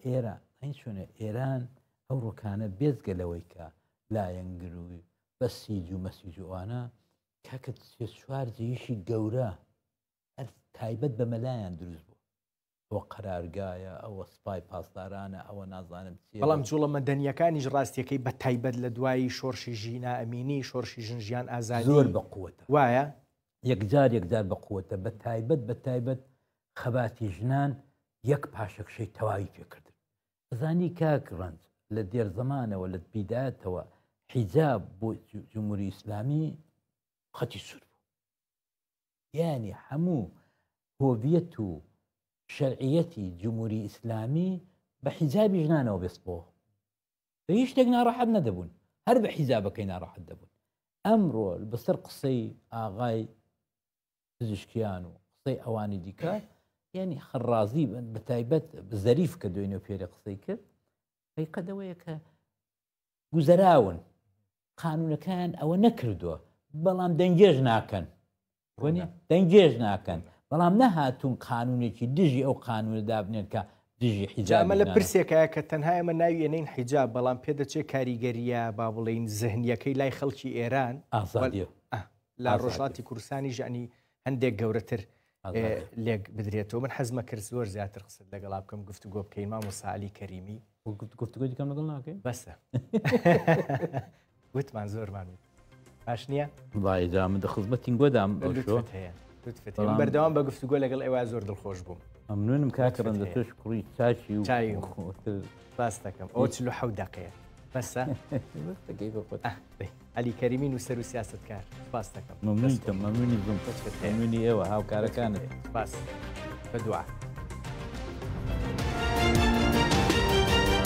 ئێرە ئەین چۆنە ئێران ئەو ڕۆکانە بێزگە لەوەی کە لایەنگروی بەسیج و مەسیج ئەوانە کاکە سێ چوار جیشی گەورە هەر تایبەت بە مەلایەن دروست بوو بۆ قەرارگایە ئەوە سپای پاسدارانە ئەوە نازانم بەڵام جوڵە مەدەنیەکانیش ڕاستیەکەی بە تایبەت لە دوایی شۆرشی ژینا ئەمینی شۆرشی ژن ژیان ئازار زۆر بە قوتە وایە یەکجار یەکجار بە قوتە بە تایبەت بە تایبەت خەباتی ژنان یەک پاشەکشەی تەواوی پێکردن ئەزانی کاک ڕەنج لە دێر زمانەوە لە بیداتەوە حیجاب بۆ جمهوری ئیسلامی خەتی سوور بوو یعنی هەموو هۆڤەت و شەرعەتی جمهوری ئیسلامی بە حیجابی ژنانەوە بێست بۆ بە هیچ شتێک ناڕەحەت نەدەبوون هەر بە حیجابەکەی ناڕەحەت دەبوون ئەمڕۆ بەسەر قسەی ئاغای پزیشکیان و قسەی ئەوانی دیکە یعنی خڕازی بن بە تایبەت زەریف کە دوێنێ پێرە قسەی کرد قەدەوەیە کە گوزەراون قانونەکان ئەوە نەکردووە بەڵام دەنگێژ ناکەن دەنگێژ ناکەن بەڵام نەهاتون قانونێکی دژی ئەو قانونە دابنێن کە دژی حیجامە لە پرسێکایە کە تەنها ئەمە ناویە نین حیجا بەڵام پێدەچێت کاریگەریە با بڵین زهنیەکەی لای خەڵکی ئێران ئازادیە لە ڕۆژاتی کوردستانی ژانی هەندێک گەورەتر لێک بدرێتەوە من حەزمە کرد زۆر زیاتر قسە لەگەڵا بکەم گفت گۆ بکەین مامۆ سالی کەریمی گفتگوی دیکەم لەگەڵ ناکەین بەسە وتمان زۆرمان وت باش نییە بڵایدا من دە خزمەتین گۆدام هەیە بەردەوام بە گفتوگۆ لەگەڵ ئێوە زۆر دڵخۆش بووم ئەمنونم کاکە ڕەندە تۆش کوڕی چاچی و چای باس دەکەم ئەو چلو حەو دەقەیە بەسە بەگەی بە عەلی کەریمی نووسەر و سیاسەتکار سپاس دەکەم مەمنونیتم مەمنونی زم مەمنونی ئێوە هاوکارەکانت باس بەدوعا.